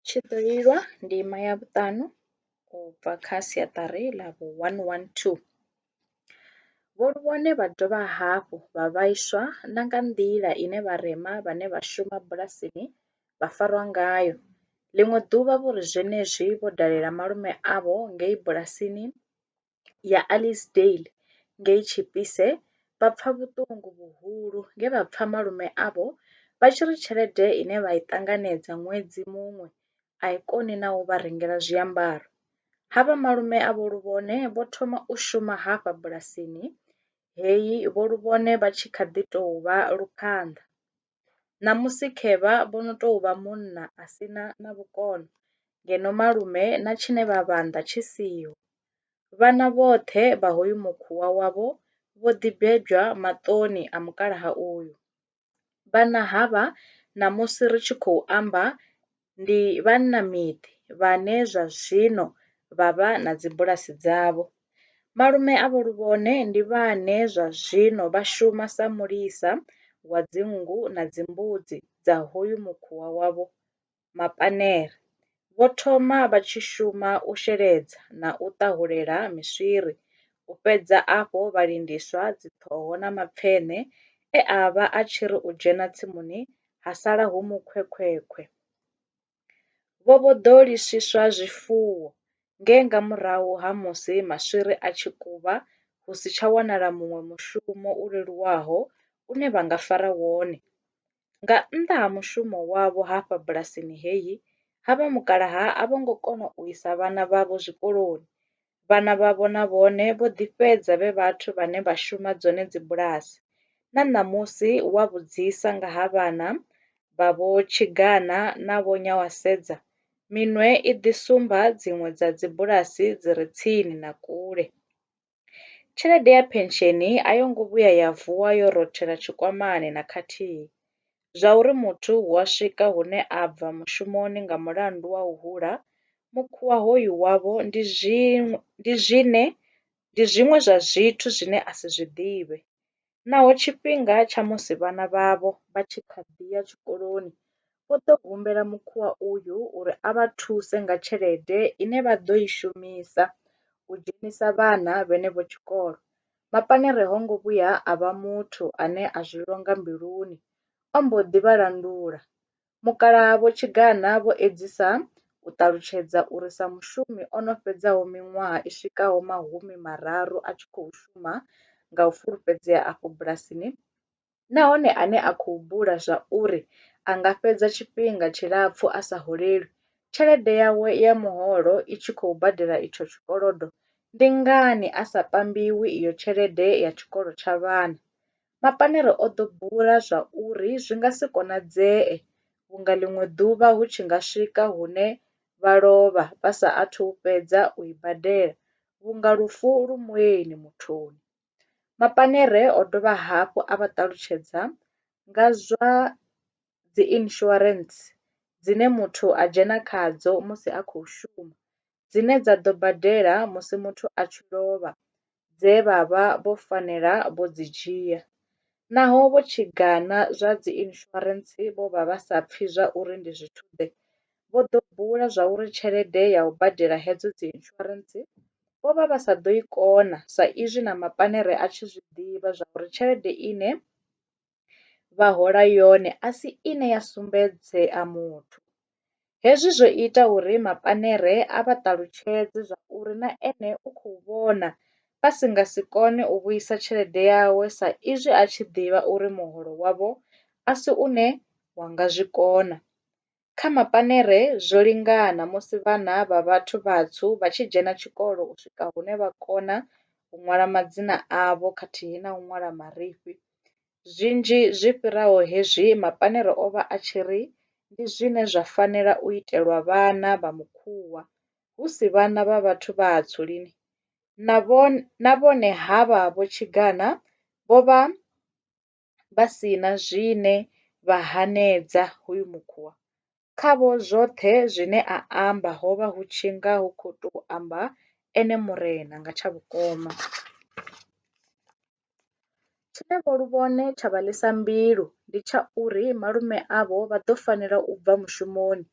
Tshi ḓo lilwa ndima ya vhuṱanu u bva kha siaṱari ḽa vhu 112. Vho Luvhone vha dovha hafhu vha vhaiswa na nga nḓila ine vharema vhane vha shuma bulasini vha farwa ngayo. Ḽiṅwe ḓuvha vho ri zwenezwi vho dalela malume avho ngei bulasini, ya Alice Dale ngei Chipise vha pfa vhuṱungu vhuhulu nge vha pfa malume avho vha tshi ri tshelede ine vha i ṱanganedza ṅwedzi muṅwe a i koni na u vha rengela zwiambaro. Ha vha malume a vho Luvhone vho thoma u shuma hafha bulasini heyi vho Luvhone vha tshi kha ḓi tou vha luphanḓa. ṋamusi khevha vho no tou vha munna a si na na vhukono ngeno malume na tshine vha vha nnḓa tshi siho. Vhana vhoṱhe vha hoyu mukhuwa wavho vho ḓi bebwa maṱoni a mukalaha uyu. Vhana havha ṋamusi ri tshi khou amba ndi vhannamiḓi vhane zwa zwino vha vha na dzibulasi dzavho. Malume a Vho Luvhone ndi vhane zwa zwino vha shuma sa mulisa wa dzinngu na dzimbudzi dza hoyu mukhuwa wa Vho Mapanere. Vho thoma vha tshi shuma u sheledza na u ṱahulela miswiri, u fhedza afho vha lindiswa dziṱhoho na mapfeṋe e a vha a tshi ri u dzhena tsimuni ha sala hu mukhwekhwekhwe. Vho vho ḓo liswa zwifuwo nge nga murahu ha musi maswiri a tshi kuba hu si tsha wanala muṅwe mushumo u leluwaho une vha nga fara wone. Nga nnḓa ha mushumo wavho hafha bulasini heyi, havha mukalaha a vho ngo kona u isa vhana vhavho zwikoloni vhana vhavho na vhone vho ḓi fhedza vhe vhathu vhane vha shuma dzone dzibulasi. Na ṋamusi wa vhudzisa nga ha vhana vha Vho Chigana na Vho Nyawasedza, minwe i ḓi sumba dziṅwe dza dzibulasi dzi re tsini na kule. Tshelede ya phensheni a yo ngo vhuya ya vuwa yo rothela tshikwamani na khathihi. Zwauri muthu hu a swika hune a bva mushumoni nga mulandu wa u hula mukhuwa hoyu wavho ndi zwiṅwe ndi zwiṅwe zwa zwithu zwine a si zwi ḓivhe. Naho tshifhinga tsha musi vhana vhavho vha tshi kha ḓi ya tshikoloni vho ḓo humbela mukhuwa uyu uri a vha thuse nga tshelede ine vha ḓo i shumisa u dzhenisa vhana vhenevho tshikolo. Mapanere ho ngo vhuya a vha muthu ane a zwi longa mbiluni, o mbo ḓi vha landula. Mukalaha Vho Chigana vho edzisa u ṱalutshedza uri sa mushumi o no fhedzaho miṅwaha i swikaho mahumi mararu a tshi khou shuma nga u fulufhedzea afho bulasini, nahone ane a khou bula zwa uri a nga fhedza tshifhinga tshilapfu a sa holelwi, tshelede yawe ya muholo i tshi khou badela itsho tshikolodo, ndi ngani a sa pambiwi iyo tshelede ya tshikolo tsha vhana? Mapanere o ḓo bula zwa uri zwi nga si konadzee vhunga ḽiṅwe ḓuvha hu tshi nga swika hune vha lovha vha sa athu fhedza u i badela vhunga lufu lu mueni muthuni. Mapanere o dovha hafhu a vha ṱalutshedza nga zwa dzi insurance dzine muthu a dzhena khadzo musi a khou shuma dzine dza ḓo badela musi muthu a tshi lovha dze vha vha vho fanela vho dzi dzhia naho vho tshi gana zwa dzi insurance vho vha vha sa pfhi zwa uri ndi zwithu ḓe vho ḓo bula zwa uri tshelede ya u badela hedzo dzi insurance vho vha vha sa ḓo i kona sa izwi na mapanere a tshi zwi ḓivha zwa uri tshelede ine vha hola yone a si ine ya sumbedzea muthu. Hezwi zwo ita uri mapanere a vha ṱalutshedze zwa uri na ene u khou vhona vha si nga si kone u vhuisa tshelede yawe sa izwi a tshi ḓivha uri muholo wavho a si une wa nga zwi kona. Kha mapanere zwo lingana musi vhana vha vhathu vhatswu vha tshi dzhena tshikolo u swika hune vha kona u ṅwala madzina avho khathihi na u ṅwala marifhi. Zwinzhi zwi fhiraho hezwi mapanere o vha a tshi ri ndi zwine zwa fanela u itelwa vhana vha Mukhuwa, hu si vhana vha vhathu vhatswu lini. Na vhone havha vho Tshigana vho vha vha si na zwine vha hanedza hoyu mukhuwa. Khavho zwoṱhe zwine a amba ho vha hu tshi nga hu khou tou amba ene Murena nga tsha vhukoma. Tshine Vho Luvhone tsha vha ḽisa mbilu ndi tsha uri malume avho vha ḓo fanela u bva mushumoni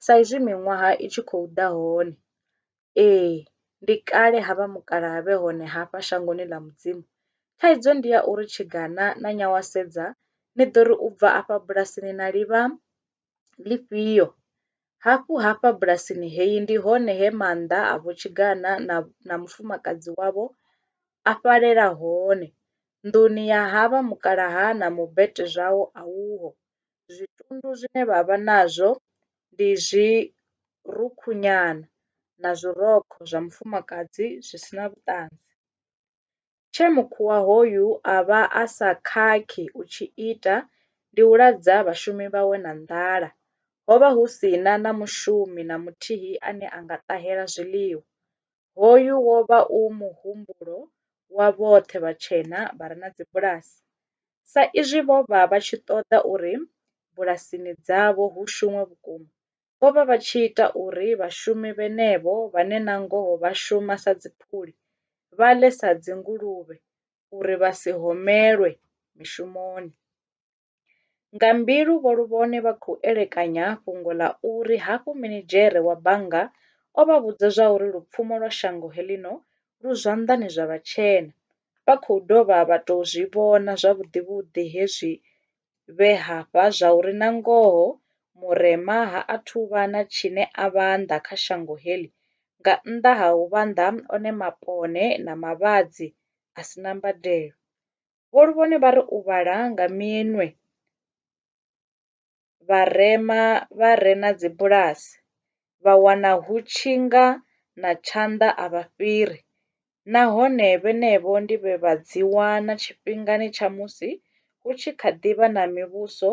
saizwi miṅwaha i tshi khou ḓa hone. Ee ndi kale ha vha mukalaha vhe hone hafha shangoni ḽa Mudzimu. Thaidzo ndi ya uri tshigana na nyawasedza ni ḓo ri u bva afha bulasini na livha ḽifhio? Hafhu hafha bulasini heyi ndi hone he maanḓa a vhotshigana na na mufumakadzi wavho a fhalela hone. Nḓuni ya ha vha mukalaha na mubete zwawo a uho. Zwitundu zwine vha vha nazwo ndi zwi rukhu nyana na zwi rokho zwa mufumakadzi zwi si na vhuṱanzi. Tshe mukhuwa hoyu a vha a sa khakhi u tshi ita ndi u ladza vhashumi vhawe na nḓala. Ho vha hu si na na mushumi na muthihi ane a nga ṱahela zwiḽiwa. Hoyu wo vha u muhumbulo wa vhoṱhe vhatshena vha re na dzibulasi. Sa izwi vho vha vha tshi ṱoḓa uri bulasini dzavho hu shumwe vhukuma, vho vha vha tshi ita uri vhashumi vhenevho vhane nangoho vha shuma sa dziphuli vha ḽe sa dzinguluvhe uri vha si homelwe mishumoni. Nga mbilu Vho Luvhone vha khou elekanya fhungo ḽa uri hafhu minidzhere wa bannga o vha vhudza zwauri lupfumo lwa shango heḽino lu zwanḓani zwa vhatshena, vha khou dovha vha tou zwi vhona zwavhuḓi-vhuḓi hezwi vhe hafha zwauri nangoho Murema ha athu u vha na tshine a vhanḓa kha shango heḽi nga nnḓa ha u vhanḓa one mapone na mavhadzi a si na mbadelo. Vho Luvhone vha ri u vhala nga minwe vharema vha re na dzibulasi vha wana hu tshi nga na tshanḓa a vha fhiri nahone vhenevho ndi vhe vha dzi wana tshifhingani tsha musi hu tshi kha ḓi vha na mivhuso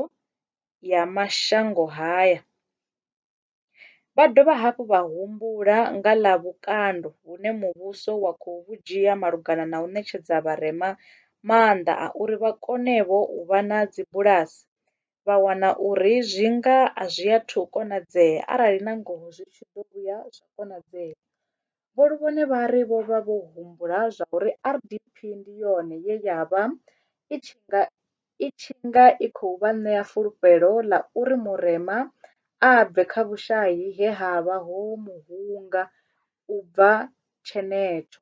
ya mashangoni haya. Vha dovha hafhu vha humbula nga ḽa vhukando vhune muvhuso wa khou vhu dzhia malugana na u ṋetshedza vharema maanḓa a uri vha kone-vho u vha na dzibulasi, vha wana uri zwi nga a zwi athu u konadzea arali nangoho zwi tshi ḓo vhuya zwa konadzea. Vho Luvhone vha ri vho vha vho humbula zwauri RDP ndi yone ye ya vha i tshi nga i tshi nga i khou vha ṋea fulufhelo ḽa uri Murema a bve kha vhushai he ha vha ho mu hunga u bva tshenetsho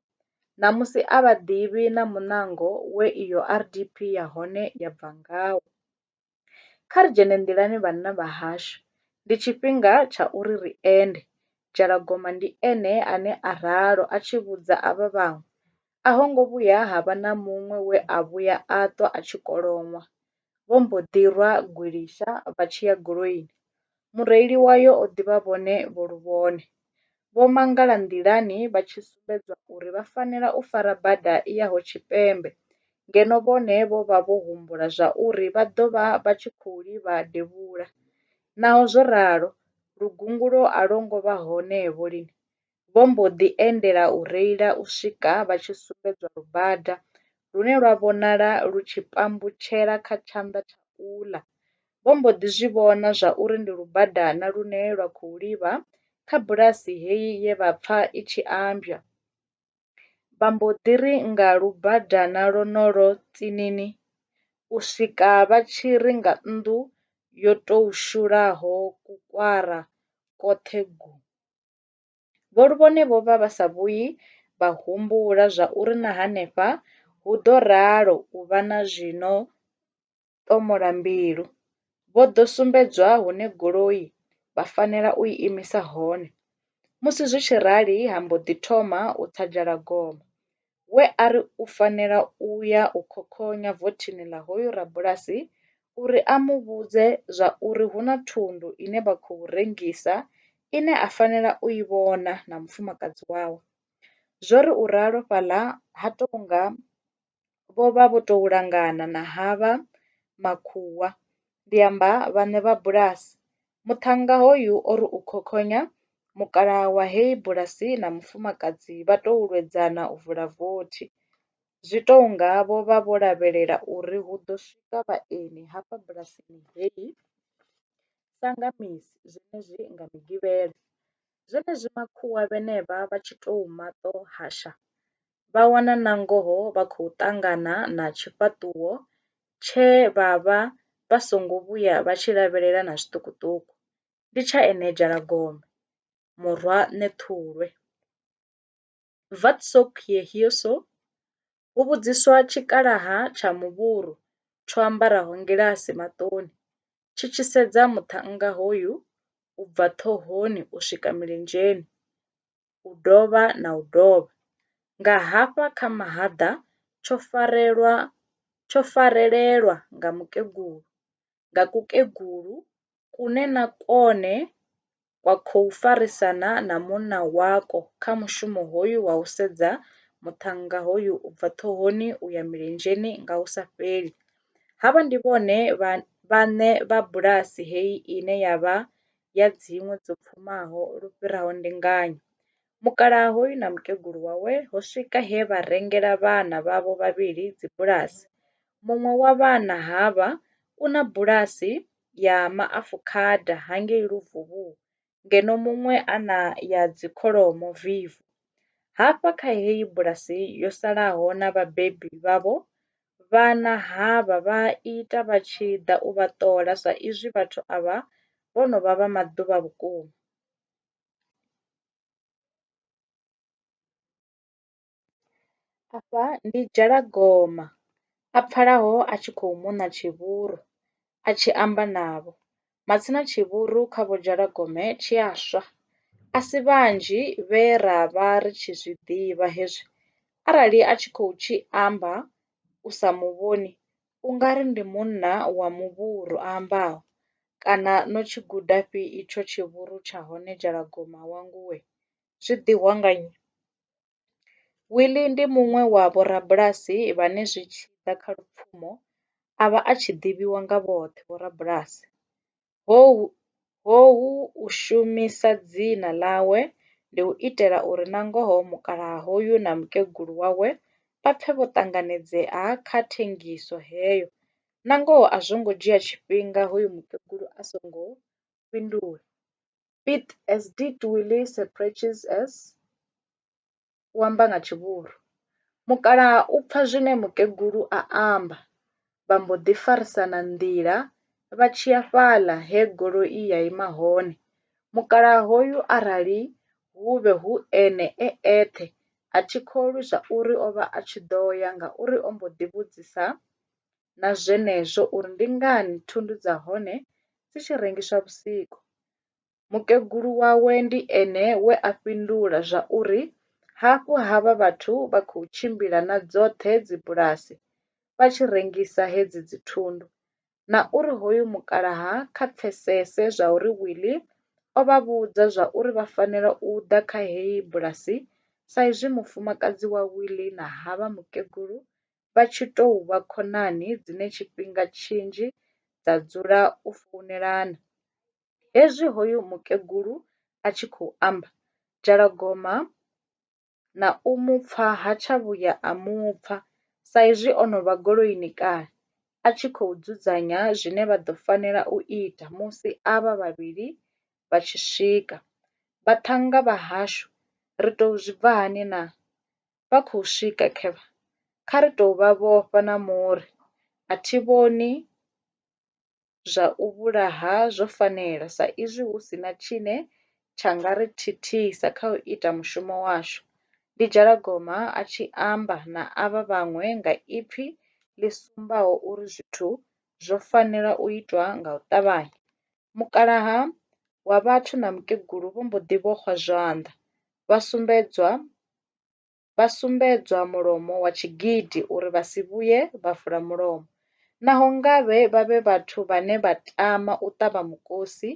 ṋamusi a vha ḓivhi na muṋango we iyo RDP ya hone ya bva ngawo. Kha ri dzhene nḓilani vhanna vha hashu, ndi tshifhinga tsha uri ri ende. Dzhalagoma ndi ene ane a ralo a tshi vhudza avha vhaṅwe. A ho ngo vhuya ha vha na muṅwe we a vhuya a ṱwa a tshi koloṅwa. Vho mbo ḓi rwa gwilisha vha tshi ya goloini. Mureili wayo o ḓivha vhone vho luvhone. Vho mangala nḓilani vha tshi sumbedzwa uri vha fanela u fara bada i yaho tshipembe ngeno vhone vho vha vho humbula zwauri vha ḓo vha vha tshi khou livha devhula. Naho zwo ralo, lugungulo a lwo ngo vha hone-vho lini. vho mbo ḓi endela u reila u swika vha tshi sumbedzwa lubada lune lwa vhonala lu tshi pambutshela kha tshanḓa tsha uḽa. Vho mbo ḓi zwi vhona zwa uri ndi lubadana lune lwa khou livha kha bulasi heyi ye vha pfa i tshi ambwa. Vha mbo ḓi ri nga lubadana lwonolwo tsinini u swika vha tshi ri nga nnḓu yo tou shulaho kukwara kwoṱhe gu. Vho Luvhone vho vha vha sa vhuyi vha humbula zwa uri na henefha hu ḓo ralo u vha na zwi no ṱomola mbilu. Vho ḓo sumbedzwa hune goloi vha fanela u i imisa hone. Musi zwi tshi rali ha mbo ḓi thoma u tsa dzhalagoma. we a ri u fanela u ya u khokhonya vothini ḽa hoyu rabulasi uri a mu vhudze zwa uri hu na thundu ine vha khou rengisa ine a fanela u i vhona na mufumakadzi wawe. Zwo ri u ralo fhaḽa ha tou nga vho vha vho tou langana na havha makhuwa, ndi amba vhaṋe vha bulasi, Muṱhannga hoyu o ri u khokhonya, mukalaha wa heyi bulasi na mufumakadzi vha tou lwedzana u vula vothi. Zwi tou nga vho vha vho lavhelela uri hu ḓo swika vhaeni hafha bulasini heyi sa nga misi zwenezwi nga Migivhela. Zwenezwi makhuwa vhenevha vha tshi tou maṱo-hasha vha wana nangoho vha khou ṱangana na tshifhaṱuwo tshe vha vha vha songo vhuya vha tshi lavhelela na zwiṱukuṱuku. Ndi tsha ene Dzhalagombe, murwa Ṋethulwe. Wat soek jy hier so? hu vhudziswa tshikalaha tsha muvhuru tsho ambaraho ngilasi maṱoni tshi tshi sedza muṱhannga hoyu u bva ṱhohoni u swika milenzheni. u dovha na u dovha, nga hafha kha mahaḓa tsho farelwa tsho farelelwa nga mukegulu nga kukegulu kune na kone kwa khou farisana na munna wako kha mushumo hoyu wa u sedza muṱhannga hoyu u bva ṱhohoni u ya milenzheni nga hu sa fheli. Havha ndi vhone vhaṋe vha bulasi heyi ine ya vha ya dziṅwe dzo pfumaho lu fhiraho ndinganyo. Mukalaha hoyu na mukegulu wawe ho swika he vha rengela vhana vhavho vhavhili dzibulasi. Muṅwe wa vhana havha u na bulasi ya maafukhada hangei Luvhuvhu ngeno muṅwe a na ya dzikholomo Vivo. Hafha kha heyi bulasi yo salaho na vhabebi vhavho vhana havha vha a ita vha tshi ḓa u vha ṱola sa izwi vhathu avha vho no vha vha maḓuvha vhukuma. Afha ndi Dzhalagoma a pfalaho a tshi khou mona tshihuru a tshi amba navho. Matsina tshivhuru kha Vho Dzhalagome tshi a swa. A si vhanzhi vhe ra vha ri tshi zwi ḓivha hezwi arali a tshi khou tshi amba u sa mu vhoni u nga ri ndi munna wa muvhuru a ambaho. Kana no tshi gudafhi itsho tshivhuru tsha hone Dzhalagoma wa nguvhe? Zwi ḓihwa nga nnyi? Willie ndi muṅwe wa vhorabulasi vhane zwi tshi ḓa kha lupfumo a vha a tshi ḓivhiwa nga vhoṱhe vhorabulasi. Houhu u shumisa dzina ḽawe ndi u itela uri nangoho mukalaha hoyu na mukegulu wawe vha pfe vho ṱanganedzea kha thengiso heyo. Nangoho a zwo ngo dzhia tshifhinga hoyu mukegulu a songo fhindula. Pete as did Willie Sir Precious as u amba nga tshivhuru. Mukalaha u pfa zwine mukegulu a amba vha mbo ḓi farisana nḓila vha tshi ya fhaḽa he goloi ya ima hone. Mukalaha hoyu arali hu vhe hu ene e eṱhe a thi kholwi zwauri o vha a tshi ḓo ya ngauri o mbo ḓi vhudzisa na zwenezwo uri ndi ngani thundu dza hone dzi tshi rengiswa vhusiku. Mukegulu wawe ndi ene we a fhindula zwa uri hafhu havha vhathu vha khou tshimbila na dzoṱhe dzibulasi vha tshi rengisa hedzi dzithundu na uri hoyu mukalaha kha pfesese zwa uri Wili o vha vhudza zwa uri vha fanela u ḓa kha heyi bulasi saizwi mufumakadzi wa Wili na havha mukegulu vha tshi tou vha khonani dzine tshifhinga tshinzhi dza dzula u founelana. Hezwi hoyu mukegulu a tshi khou amba, Dzhalagoma na u mu pfa ha tsha vhuya a mu pfa sa izwi o no vha goloini kale a tshi khou dzudzanya zwine vha ḓo fanela u ita musi avha vhavhili vha tshi swika. Vhaṱhannga vha hashu ri tou zwi bva hani na? vha khou swika kha kha ri tou vha vhofha na muri a thi vhoni zwa u vhulaha zwo fanela sa izwi hu si na tshine tsha nga ri thithisa kha u ita mushumo washu, ndi Dzhalagoma a tshi amba na avha vhaṅwe nga ipfi ḽi sumbaho uri zwithu zwo fanela u itwa nga u ṱavhanya. Mukalaha wa vhathu na mukegulu vho mbo ḓi vhoxwa zwanḓa, vha sumbedzwa vha sumbedzwa mulomo wa tshigidi uri vha si vhuye vha vula mulomo. Naho ngavhe vha vhe vhathu vhane vha tama u ṱavha mukosi,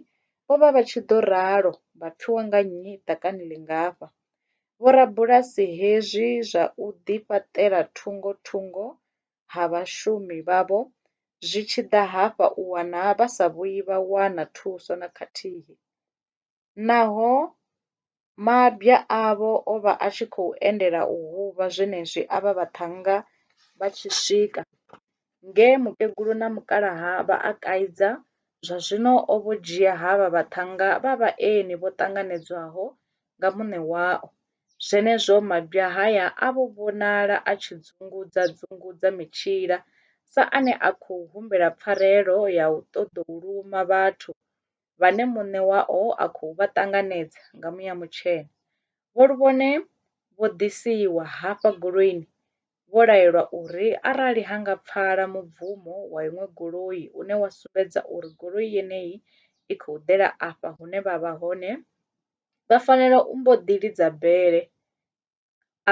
vho vha vha tshi ḓo ralo vha pfiwa nga nnyi ḓakani ḽingafha. Vho rabulasi hezwi zwa u ḓi fhaṱela thungo thungo ha vhashumi vhavho zwi tshi ḓa hafha u wana vha sa vhuyi vha wana thuso na khathihi. Naho mabya avho o vha a tshi khou endelela u huvha zwenezwi avha vhaṱhannga vha tshi swika nge mukegulu na mukalaha vha a kaidza, zwa zwino o vho dzhia havha vhaṱhannga vha vhaeni vho ṱanganedzwaho nga muṋe wao. Zwenezwo mabya haya a vho vhonala a tshi dzungudza-dzungudza mitshila sa ane a khou humbela pfarelo ya u ṱoḓou luma vhathu vhane muṋe wao a khou vha ṱanganedza nga muya mutshena. Vho Luvhone vho ḓisiwa hafha goloini vho laelwa uri arali ha nga pfala mubvumo wa iṅwe goloi une wa sumbedza uri goloi yeneyi i khou ḓela afha hune vha vha hone, vha fanela u mbo ḓi lidza bele.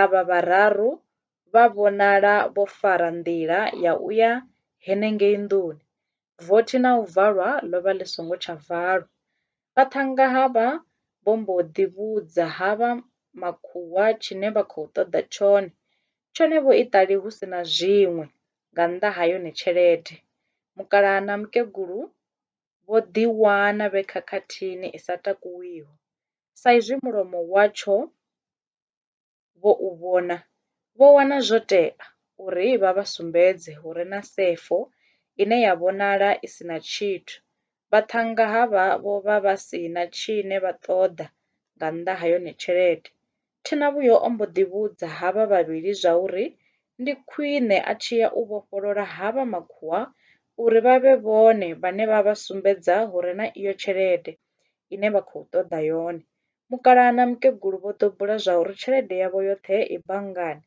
Avha vhararu vha vhonala vho fara nḓila ya u ya henengei nḓuni, vothi na u valwa ḽo vha ḽi songo tsha valwa. Vha thanga ha vha vho mbo ḓi vhudza ha vha makhuwa tshine vha khou ṱoḓa tshone, tshone vho iṱali hu si na zwiṅwe nga nnḓa ha yone tshelede. Mukalaha na mukegulu vho ḓiwana vhe khakhathini i sa takuwiho. Sa izwi mulomo watsho vho u vhona, vho wana zwo tea uri vha vha sumbedze hu re na sefo ine ya vhonala i si na tshithu. Vhaṱhannga havha vho vha vha si na tshine vha ṱoḓa nga nnḓa ha yone tshelede. Thinavhuyo o mbo ḓi vhudza havha vhavhili zwa uri ndi khwine a tshi ya u vhofholola havha makhuwa uri vha vhe vhone vhane vha vha sumbedza hu re na iyo tshelede ine vha khou ṱoḓa yone. Mukalaha na mukegulu vho ḓo bula zwa uri tshelede yavho yoṱhe i banngani.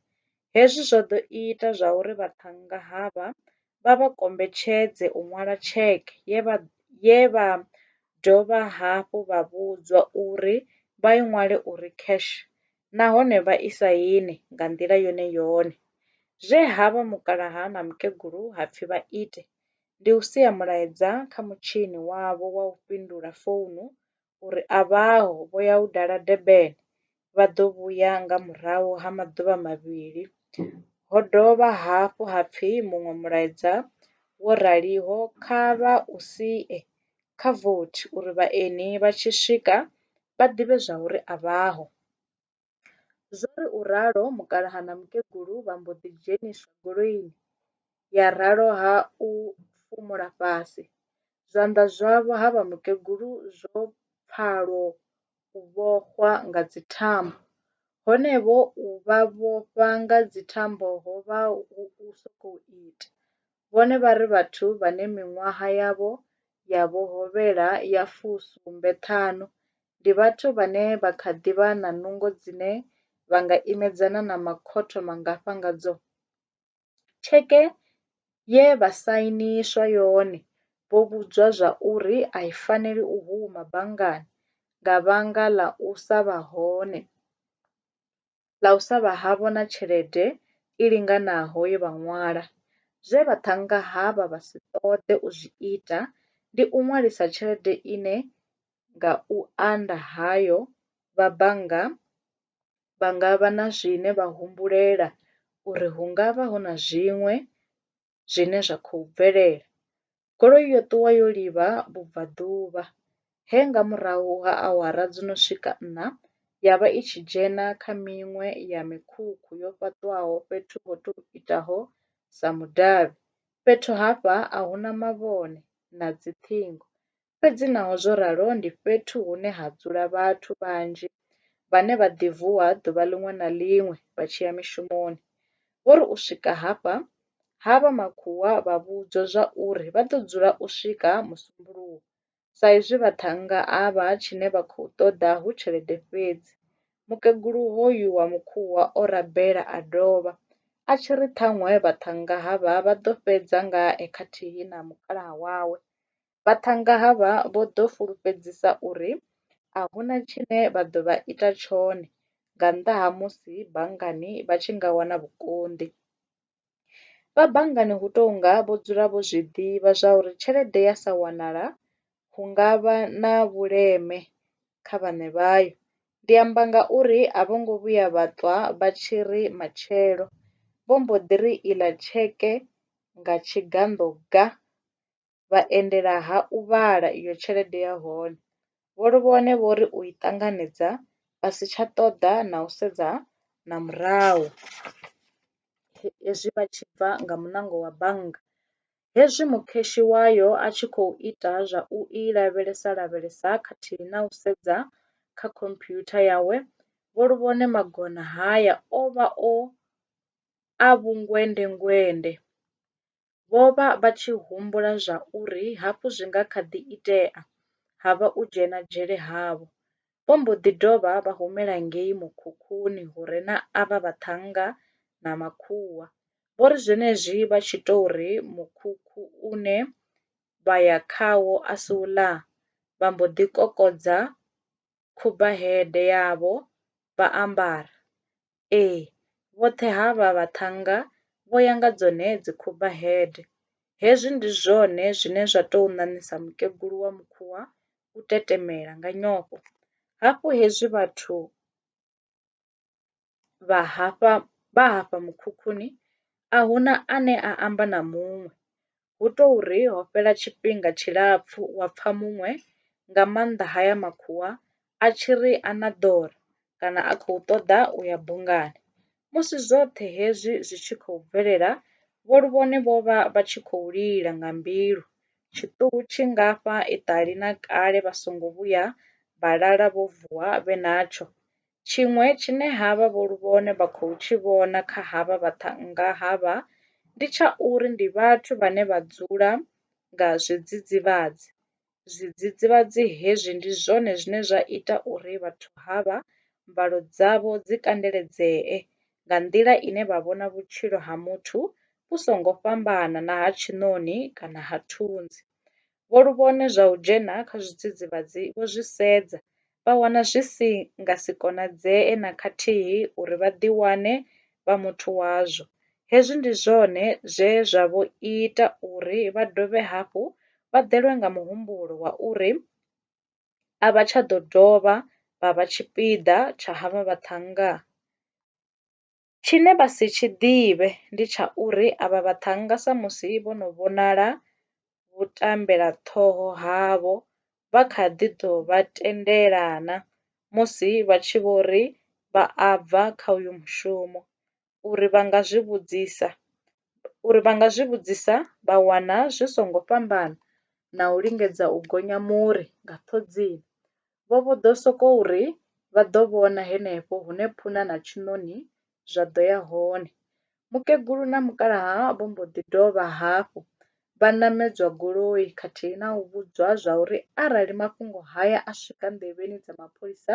Hezwi zwo ḓo ita zwauri vhaṱhannga havha vha vha kombetshedze u ṅwala tsheke ye vha dovha hafhu vha vhudzwa uri vha i ṅwale uri cash nahone vha i saine nga nḓila yone yone. Zwe ha vha mukalaha na mukegulu ha pfi vha ite, ndi u sia mulaedza kha mutshini wavho wa u fhindula founu uri a vhaho vho ya u dala Durban vha ḓo vhuya nga murahu ha maḓuvha mavhili. Ho dovha hafhu ha pfi muṅwe mulaedza wo raliho kha vha u sie kha vothi uri vhaeni vha tshi swika vha ḓivhe zwauri a vhaho. Zwo ri u ralo mukalaha na mukegulu vha mbo ḓi dzheniswa goloini ya ralo ha u fhumula fhasi. Zwanḓa zwavho ha vha mukegulu zwo pfalwo u vhofhwa nga dzithambo. Honevho u vha vhofha nga dzithambo ho vha hu u sokou ita. Vhone vha ri vhathu vhane miṅwaha yavho ya vho hovhela ya fu sumbe ṱhanu ndi vhathu vhane vha kha ḓi vha na nungo dzine vha nga imedzana na makhotho mangafha ngadzo? Tsheke ye vha sainiswa yone vho vhudzwa zwa uri a i faneli u huma banngani nga vhanga ḽa u sa vha hone ḽa u sa vha havho na tshelede i linganaho ye vha ṅwala. Zwe vhaṱhannga havha vha si ṱoḓe u zwi ita ndi u ṅwalisa tshelede ine nga u anda hayo vha bannga vha nga vha na zwine vha humbulela uri hu nga vha hu na zwiṅwe zwine zwa khou bvelela. Goloi yo ṱuwa yo livha vhubvaḓuvha he nga murahu ha awara dzo no swika nṋa ya vha i tshi dzhena kha miṅwe ya mikhukhu yo fhaṱwaho fhethu ho tou itaho sa mudavhi. Fhethu hafha a hu na mavhone na dzi ṱhingo Fhedzi naho zwo ralo, ndi fhethu hune ha dzula vhathu vhanzhi vhane vha ḓi vuwa ḓuvha ḽiṅwe na ḽiṅwe vha tshi ya mishumoni. Vho ri u swika hafha, ha vha makhuwa vha vhudzwa zwa uri vha ḓo dzula u swika Musumbuluwo sa izwi vhaṱhannga avha tshine vha khou ṱoḓa hu tshelede fhedzi. Mukegulu hoyu wa Mukhuwa o rabela a dovha a tshi ri ṱhaṅwe vhaṱhannga havha vha ḓo fhedza ngae khathihi na mukalaha wawe Vhaṱhannga havha vho ḓo fulufhedzisa uri a hu na tshine vha ḓo vha ita tshone nga nnḓa ha musi banngani vha tshi nga wana vhukonḓi. Vha banngani hu tou nga vho dzula vho zwi ḓivha zwa uri tshelede ya sa wanala hu nga vha na vhuleme kha vhaṋe vhayo. Ndi amba ngauri a vho ngo vhuya vha ṱwa vha tshi ri matshelo vho mbo ḓi ri iḽa tsheke nga tshiganḓo ga. vha endela ha u vhala iyo tshelede ya hone. Vho Luvhone vho ri u i ṱanganedza vha si tsha ṱoḓa na u sedza na murahu hezwi vha tshi bva nga muṋango wa bannga. Hezwi mukheshi wayo a tshi khou ita zwa u i lavhelesa-lavhelesa khathihi na u sedza kha khomphyutha yawe, Vho Luvhone magona haya o vha a vhungwende-ngwende. Vho vha vha tshi humbula zwa uri hafhu zwi nga kha ḓi itea ha vha u dzhena dzhele havho. Vho mbo ḓi dovha vha humela ngei mukhukhuni hu re na avha vhaṱhannga na makhuwa. Vho ri zwenezwi vha tshi tou ri mukhukhu une vha ya khawo a si u ḽaa, vha mbo ḓi kokodza khubaheḓe yavho vha ambara. Ee, vhoṱhe ha vha vhaṱhannga vho ya nga dzone dzikhubaheḓe. Hezwi ndi zwone zwine zwa tou ṋaṋisa mukegulu wa Mukhuwa u tetemela nga nyofho. Hafhu hezwi vhathu. vha hafha vha hafha mukhukhuni a hu na ane a amba na muṅwe. Hu tou ri ho fhela tshifhinga tshilapfu wa pfa muṅwe, nga maanḓa haya makhuwa, a tshi ri a na ḓora kana a khou ṱoḓa u ya bungani. Musi zwoṱhe hezwi zwi tshi khou bvelela, vho Luvhone vho vha vha tshi khou lila nga mbilu. Tshiṱuhu tshi ngafha iṱali na kale vha songo vhuya vha lala vho vuwa vhe natsho. Tshiṅwe tshine havha vho Luvhone vha khou tshi vhona kha havha vhaṱhannga havha ndi tsha uri ndi vhathu vhane vha dzula nga zwidzidzivhadzi. Zwidzidzivhadzi hezwi ndi zwone zwine zwa ita uri vhathu havha mbalo dzavho dzi kandeledzee nga nḓila ine vha vhona vhutshilo ha muthu vhu songo fhambana na ha tshiṋoni kana ha thunzi. vho luvhone zwa u dzhena kha zwidzidzivhadzi vho zwi sedza, vha wana zwi si nga si konadzee na khathihi uri vha ḓiwane vha muthu wazwo. Hezwi ndi zwone zwe zwa vho ita uri vha dovhe hafhu vha ḓelwe nga muhumbulo wa uri a vha tsha ḓo dovha vha vha tshipiḓa tsha havha vhaṱhannga. Tshine vha si tshi ḓivhe ndi tsha uri avha vhaṱhannga samusi vho no vhonala vhutambelaṱhoho havho vha kha ḓi ḓo vha tendela na musi vha tshi vho ri vha a bva kha uyo mushumo, uri vha nga zwi vhudzisa uri vha nga zwi vhudzisa vha wana zwi songo fhambana na u lingedza u gonya muri nga ṱhodzini. Vho vho ḓo sokou ri vha ḓo vhona henefho hune phuna na tshiṋoni zwa ḓo ya hone. Mukegulu na mukalaha vho mbo ḓi dovha hafhu vha ṋamedzwa goloi khathihi na u vhudzwa zwa uri arali mafhungo haya a swika nḓevheni dza mapholisa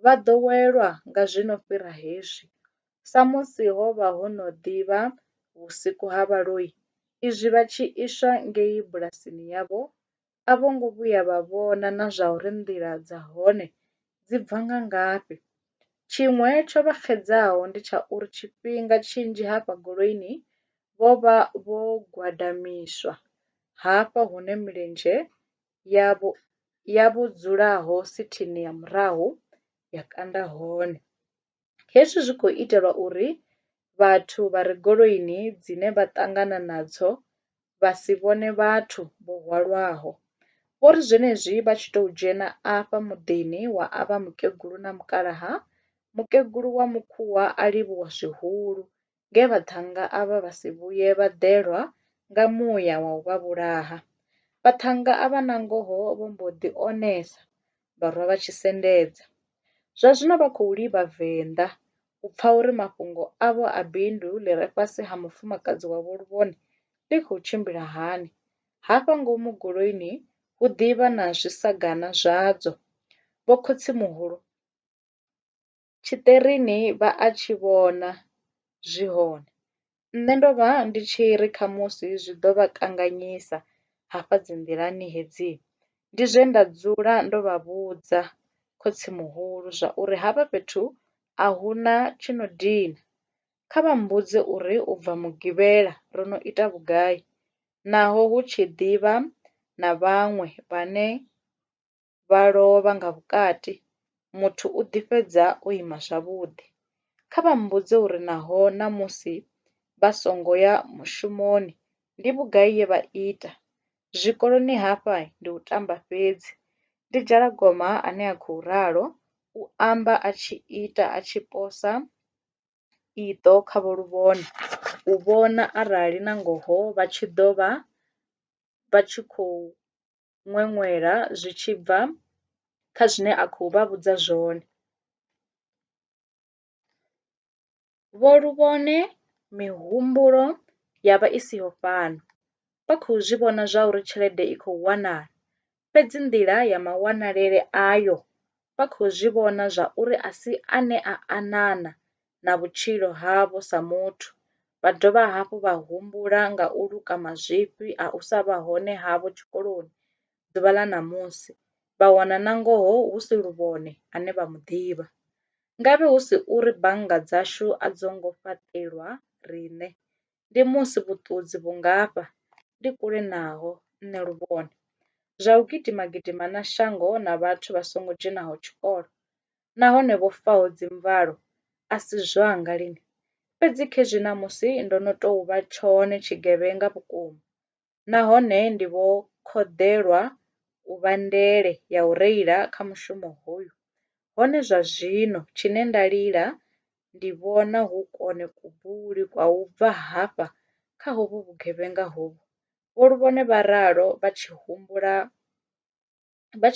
vha ḓo welwa nga zwi no fhira hezwi. Samusi ho vha ho no ḓi vha vhusiku ha vhaloi izwi vha tshi iswa ngei bulasini yavho, a vho ngo vhuya vha vhona na zwauri nḓila dza hone dzi bva nga ngafhi. Tshiṅwe tsho vha xedzaho ndi tsha uri tshifhinga tshinzhi hafha goloini vho vha vho gwadamiswa hafha hune milenzhe yavho ya vho dzulaho sithini ya murahu ya kanda hone. Hezwi zwi khou itelwa uri vhathu vha re goloini dzine vha ṱangana nadzo vha si vhone vhathu vho hwalwaho. Vho ri zwenezwi vha tshi tou dzhena afha muḓini wa avha mukegulu na mukalaha, mukegulu wa Mukhuwa a livhuwa zwihulu nge vhaṱhannga avha vha si vhuye vha ḓelwa nga muya wa u vha vhulaha. Vhaṱhannga avha nangoho vho mbo ḓi onesa vha rwa vha tshi sendedza. Zwa zwino vha khou livha venḓa u pfa uri mafhungo avho a bindu ḽi re fhasi ha mufumakadzi wavho luvhone ḽi khou tshimbila hani. Hafha ngomu goloini hu ḓi vha na zwisagana zwadzo. Vho khotsimuhulu! tshiṱerini vha a tshi vhona zwi hone. Nṋe ndo vha ndi tshi ri khamusi zwi ḓo vha kanganyisa hafha dzi nḓilani hedzi ndi zwe nda dzula ndo vha vhudza khotsimuhulu zwa uri hafha fhethu a hu na tshi no dina, kha vha mbudze uri u bva mugivhela ro no ita vhugai naho hu tshi ḓivha na vhaṅwe vhane vha lovha nga vhukati, muthu u ḓi fhedza o ima zwavhuḓi. Kha vha mmbudze uri naho na musi vha songo ya mushumoni ndi vhugai ye vha ita. Zwikoloni hafha ndi u tamba fhedzi, ndi Dzhalagoma ane a khou ralo, u amba a tshi ita a tshi posa iṱo kha Vho Luvhona u vhona arali na ngoho vha tshi ḓo vha vha tshi khou. ṅweṅwela zwi tshi bva kha zwine a khou vha vhudza zwone. Vho Luvhone mihumbulo ya vha i siho fhano, vha khou zwi vhona zwauri tshelede i khou wanala, fhedzi nḓila ya mawanalele ayo vha khou zwi vhona zwa uri a si ane a anana na vhutshilo havho sa muthu, vha dovha hafhu vha humbula nga u luka mazwifhi a u sa vha hone havho tshikoloni ḓuvha ḽa ṋamusi, vha wana nangoho hu si Luvhone ane vha mu ḓivha. Ngavhe hu si uri bannga dzashu a dzo ngo fhaṱelwa riṋe, ndi musi vhuṱudzi vhu ngafha ndi kule naho nṋe luvhone zwa u gidima gidima na shango na vhathu vha songo dzhenaho tshikolo nahone vho faho dzi mvalo a si zwanga lini fhedzi khezwi ṋamusi ndo no tou vha tshone tshigevhenga vhukuma nahone ndi vho khoḓelwa u vha ndele ya u reila kha mushumo hoyu, hone zwa zwino tshine nda lila ndi vhona hu kone kubuli kwa u bva hafha kha hovhu vhugevhenga hovhu, Vho Luvhone vha ralo vha tshi humbula vha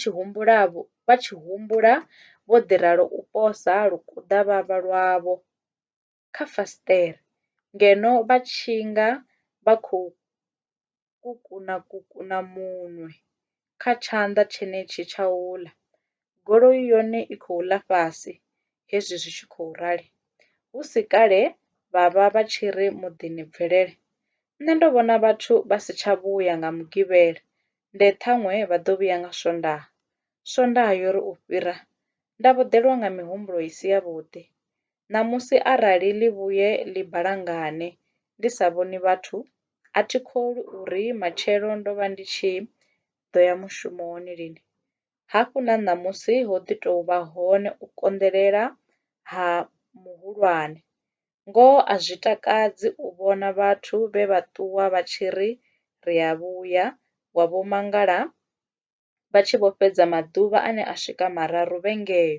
tshi humbula vho ḓi ralo u posa lukuḓavhavha lwavho. kha fasiṱere ngeno vha tshi nga vha khou kukuna kukuna munwe kha tshanḓa tshenetshi tsha u ḽa. Goloi yone i khou ḽa fhasi hezwi zwi tshi khou rali. Hu si kale vha vha vha tshi ri muḓini bvelele. Nṋe ndo vhona vhathu vha si tsha vhuya nga Mugivhela, nde ṱhaṅwe vha ḓo vhuya nga Swondaha. Swondaha yo ri u fhira, nda vhuḓelwa nga mihumbulo i si yavhuḓi. Ṋamusi arali ḽi vhuye ḽi balangane ndi sa vhoni vhathu, a thi kholwi uri matshelo ndo vha ndi tshi ḓo ya mushumoni lini. Hafhu na ṋamusi ho ḓi tou vha hone u konḓelela ha muhulwane. Ngoho a zwi takadzi u vhona vhathu vhe vha ṱuwa vha tshi ri ri a vhuya wa vho mangala. vha tshi vho fhedza maḓuvha ane a swika mararu vhe ngeo.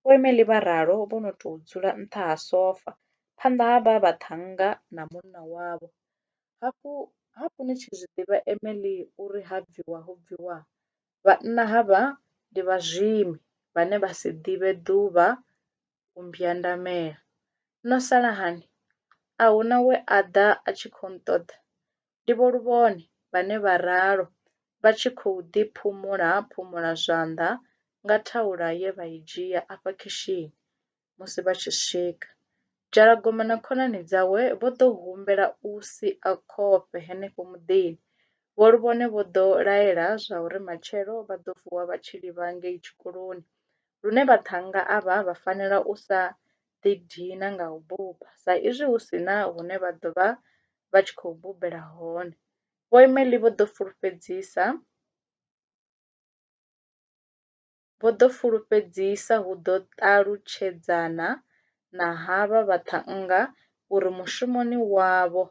Vhoimeli vha ralo vho no tou dzula nṱha ha sofa, phanḓa ha vha vhaṱhannga na munna wavho. Hafhu, hafhu ni tshi zwi ḓivha Emily uri ha bviwa ho bviwa, vhanna havha ndi vhazwimi vhane vha si ḓivhe ḓuvha u mbwandamela. No sala hani? A hu na we a ḓa a tshi khou nṱoḓa? Ndi Vho Luvhone vhane vha ralo vha tshi khou ḓi phumula-phumula zwanḓa nga thaula ye vha i dzhia afha khishini musi vha tshi swika. Dzhalagoma na khonani dzawe vho ḓo humbela u sia khofhe henefho muḓini. Vho Luvhone vho ḓo laela zwa uri matshelo vha ḓo vuwa vha tshi livha ngei tshikoloni lune vhaṱhannga avha vha fanela u sa ḓi dina nga u buba sa izwi hu si na hune vha ḓo vha vha tshi khou bubela hone. Vho Emely vho ḓo fulufhedzisa vho ḓo fulufhedzisa hu ḓo ṱalutshedzana na havha vhaṱhannga uri mushumoni wavho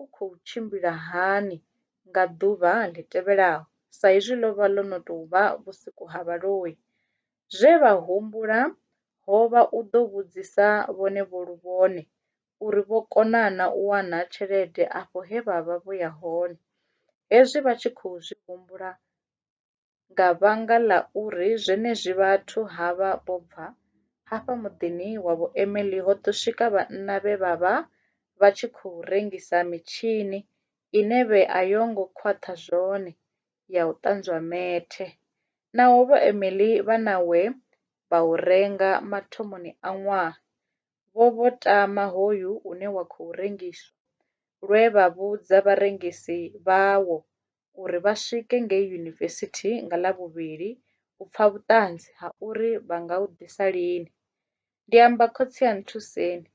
u khou tshimbila hani nga ḓuvha ḽi tevhelaho sa izwi ḽo vha ḽo no tou vha vhusiku ha vhaloi. Zwe vha humbula ho vha u ḓo vhudzisa vhone vho lu vhone uri vho kona na u wana tshelede afho he vha vha vho ya hone. Hezwi vha tshi khou zwi humbula, nga vhanga ḽa uri zwenezwi vhathu ha vha vho bva hafha muḓini wa vhuimeli ho ḓo swika vhanna vhe vha vha vha tshi khou rengisa mitshini ine vhe a yo ngo khwaṱha zwone ya u ṱanzwa methe. Naho vhuimeli vha na we vha u renga mathomoni a ṅwaha vho vho tama hoyu une wa khou rengiswa, lwe vha vhudza vharengisi vhawo uri vha swike ngei yunivesithi nga Ḽavhuvhili u pfa vhuṱanzi ha uri vha nga u ḓisa lini. Ndi amba, Khotsi a nthuseni!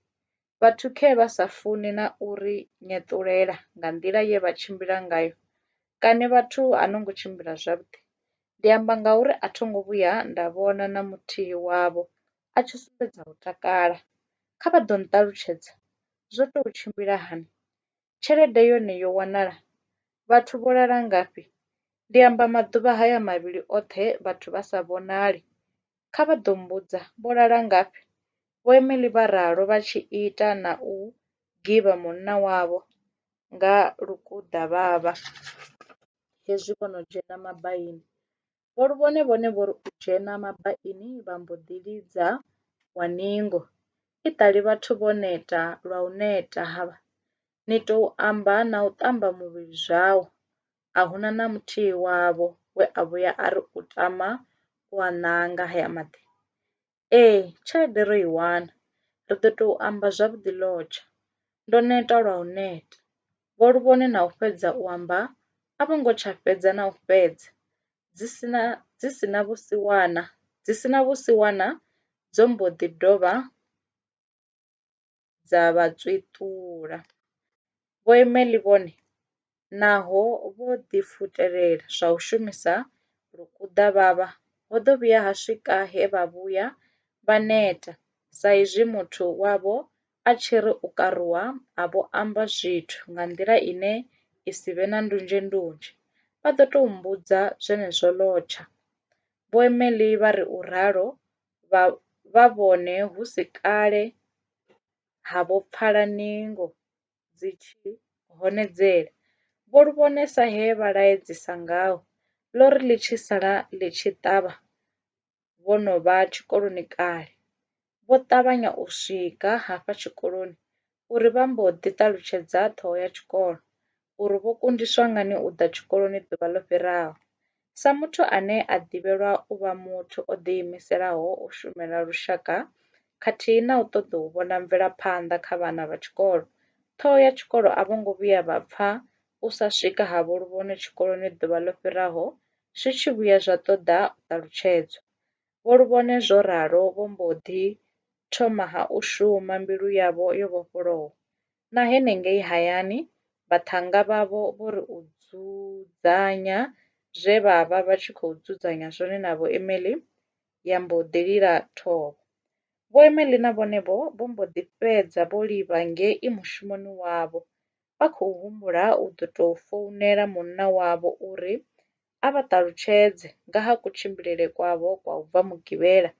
Vhathu khee vha sa funi na u ri nyeṱulela nga nḓila ye vha tshimbila ngayo. Kani vhathu a no ngo tshimbila zwavhuḓi? Ndi amba ngauri a tho ngo vhuya nda vhona na muthihi wavho a tshi sumbedza u takala. Kha vha ḓo nṱalutshedza zwo tou tshimbila hani? Tshelede yone yo wanala? Vhathu vho lala ngafhi? Ndi amba maḓuvha haya mavhili oṱhe vhathu vha sa vhonali. Kha vha ḓo mmbudza, Vho lala ngafhi? Vho Emily vha ralo vha tshi ita na u givha munna wavho nga lukuḓavhavha hezwi vho no dzhena mabaini. Vho Luvhone vhone vho ri u dzhena mabaini vha mbo ḓi lidza wa ningo. I ṱali vhathu vho neta lwa u neta havha, ni tou amba na u ṱamba muvhili zwau. A hu na na muthihi wavho we a vhuya a ri u tama u a nanga haya maḓi. Ee, tshelede ro i wana, ri ḓo tou amba zwavhuḓi lodge. Ndo neta lwa u neta. Vho Luvhone na u fhedza u amba a vho ngo tsha fhedza na u fhedza dzi si na dzi si na vhusiwana dzi si na vhusiwana dzo mbo ḓi dovha dza vha tswiṱula. Vho Emelie vhone naho vho ḓifutelela zwa u shumisa lukuḓavhavha, ho ḓo vhuya ha swika he vha vhuya vha neta sa izwi muthu wavho a tshi ri u karuwa a vho amba zwithu nga nḓila ine i si vhe na ndunzhendunzhe vha ḓo tou mmbudza zwenezwo lwotsha. Vho Emelie vha ri u ralo vha vha vhone hu si kale ha vho pfala ningo dzi tshi honedzela, vho lu vhone sa he vha laedzisa ngaho, ḽo ri ḽi tshi sala ḽi tshi ṱavha vho no vha tshikoloni kale, vho ṱavhanya u swika hafha tshikoloni uri vha mbo ḓi ṱalutshedza ṱhoho ya tshikolo uri vho kundiswa ngani u ḓa tshikoloni ḓuvha ḽo fhiraho. Sa muthu ane a ḓivhelwa u vha muthu o ḓiimiselaho u shumela lushaka khathihi na u ṱoḓa u vhona mvelaphanḓa kha vhana vha tshikolo, ṱhoho ya tshikolo a vho ngo vhuya vha pfa u sa swika ha Vho Luvhono tshikoloni ḓuvha ḽo fhiraho zwi tshi vhuya zwa ṱoḓa u ṱalutshedzwa. Vho Luvhone zwo ralo vho mbo ḓi thoma ha u shuma mbilu yavho yo vhofholowa. Na henengei hayani, vhaṱhannga vhavho vho ri u dzudzanya zwe vha vha vha tshi khou dzudzanya zwone na Vho Emily ya mbo ḓi lila thovho. Vho Emily na vhone-vho vho mbo ḓi fhedza vho livha ngei mushumoni wavho, vha khou humbula u ḓo tou founela munna wavho uri a vha ṱalutshedze nga ha kutshimbilele kwavho kwa u bva Mugivhela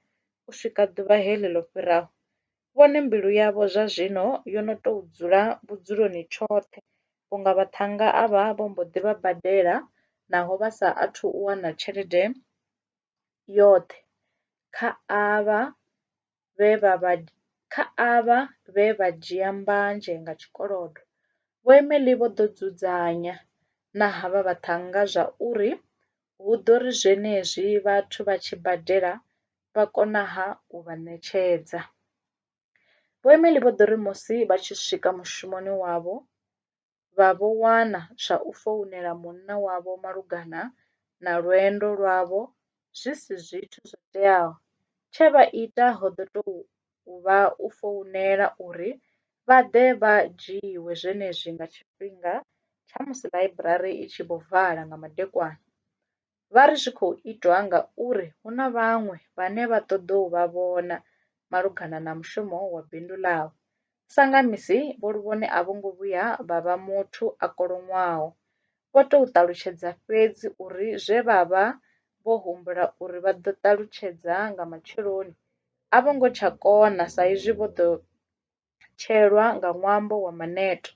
u swika ḓuvha heḽi ḽo fhiraho, vhone mbilu yavho zwa zwino yo no tou dzula vhudzuloni tshoṱhe vhunga vhaṱhannga avha vho mbo ḓi vha badela naho vha sa athu u wana tshelede yoṱhe kha avha. vhe vha vha kha avha vhe vha dzhia mbanzhe nga tshikolodo, Vho Emely vho ḓo dzudzanya na havha vhaṱhannga zwa uri hu ḓo ri zwenezwi vhathu vha tshi badela vha konaha u vha ṋetshedza. Vho Emely vho ḓo ri musi vha tshi swika mushumoni wavho vha vho wana zwa u founela munna wavho malugana na lwendo lwavho zwi si zwithu zwo teaho. Tshe vha ita ho ḓo tou vha u founela uri vha ḓe vha dzhiiwe zwenezwi nga tshifhinga tsha musi ḽaiburari i tshi vho vala nga madekwana. vha ri zwi khou itwa ngauri hu na vhaṅwe vhane vha ṱoḓa u vha vhona malugana na mushumo wa bindu ḽavho. Sa nga misi, Vho Luvhone a vho ngo vhuya vha vha muthu a koloṅwaho. Vho tou ṱalutshedza fhedzi uri zwe vha vha vho humbula uri vha ḓo ṱalutshedza nga matsheloni a vho ngo tsha kona saizwi vho ḓo tshelwa nga ṅwambo wa maneto.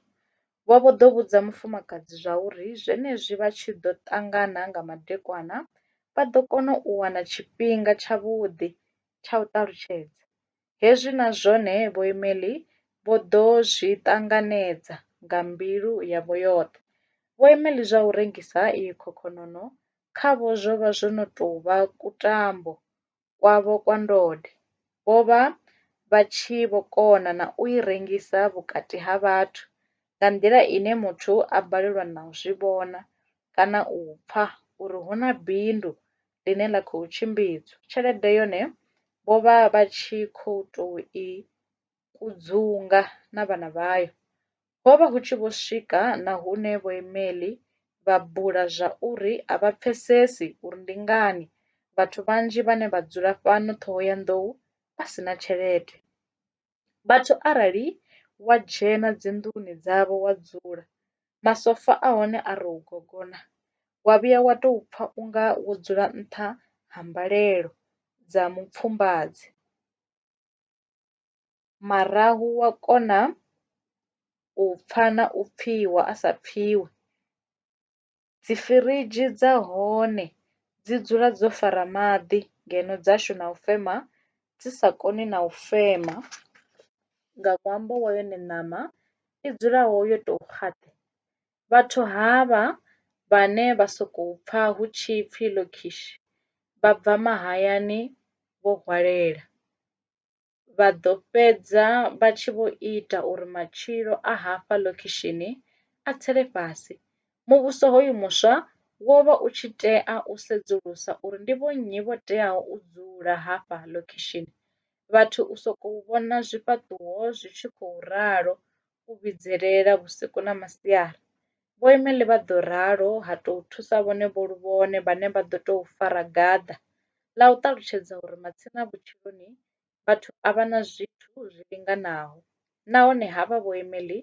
Vho vho ḓo vhudza mufumakadzi zwauri zwenezwi vha tshi ḓo ṱangana nga madekwana vha ḓo kona u wana tshifhinga tshavhuḓi tsha u ṱalutshedza. Hezwi na zwone Vho Emily vho ḓo zwi ṱanganedza nga mbilu yavho yoṱhe. Vho Emily zwa u rengisa iyi khokhononoo khavho zwo vha zwo no tou vha kutambo kwavho kwa ndode, vho vha vha tshi vho kona na u i rengisa vhukati ha vhathu nga nḓila ine muthu a balelwa na u zwi vhona kana u pfa uri hu na bindu ḽine ḽa khou tshimbidzwa. Tshelede yone vho vha vha tshi khou tou i kudzunga na vhana vhayo. Ho vha hu tshi vho swika na hune vhoimeḽi vha bula zwauri a vha pfesesi uri ndi ngani vhathu vhanzhi vhane vha dzula fhano Ṱhohoyanḓou vha si na tshelede. Vhathu arali wa dzhena dzinḓuni dzavho wa dzula, masofa a hone a rou gogona, wa vhuya wa tou pfa u nga wo dzula nṱha ha mbalelo dza mupfumbadzo. marahu wa kona u pfha na u pfhiwa a sa pfhiwi. Dzi firidzhi dza hone dzi dzula dzo fara maḓi ngeno dzashu na u fema dzi sa koni na u fema nga ṅwambo wa yone ṋama i dzulaho yo tou . Vhathu havha vhane vha sokou pfa hu tshi pfi Lokishi vha bva mahayani vho hwalela, vha ḓo fhedza vha tshi vho ita uri matshilo a hafha Lokishini a tsele fhasi. Muvhuso hoyu muswa wo vha u tshi tea u sedzulusa uri ndi vhonnyi vho teaho u dzula hafha Lokishini. Vhathu u sokou vhona zwifhaṱuwo zwi tshi khou ralo u vhidzelela vhusiku na masiari. Vhoimeli vha ḓo ralo, ha tou thusa vhone vho lu vhone vhane vha ḓo tou fara gaḓa ḽa u ṱalutshedza uri matsina vhutshiloni vhathu a vha na zwithu zwi linganaho nahone havha vhoimeli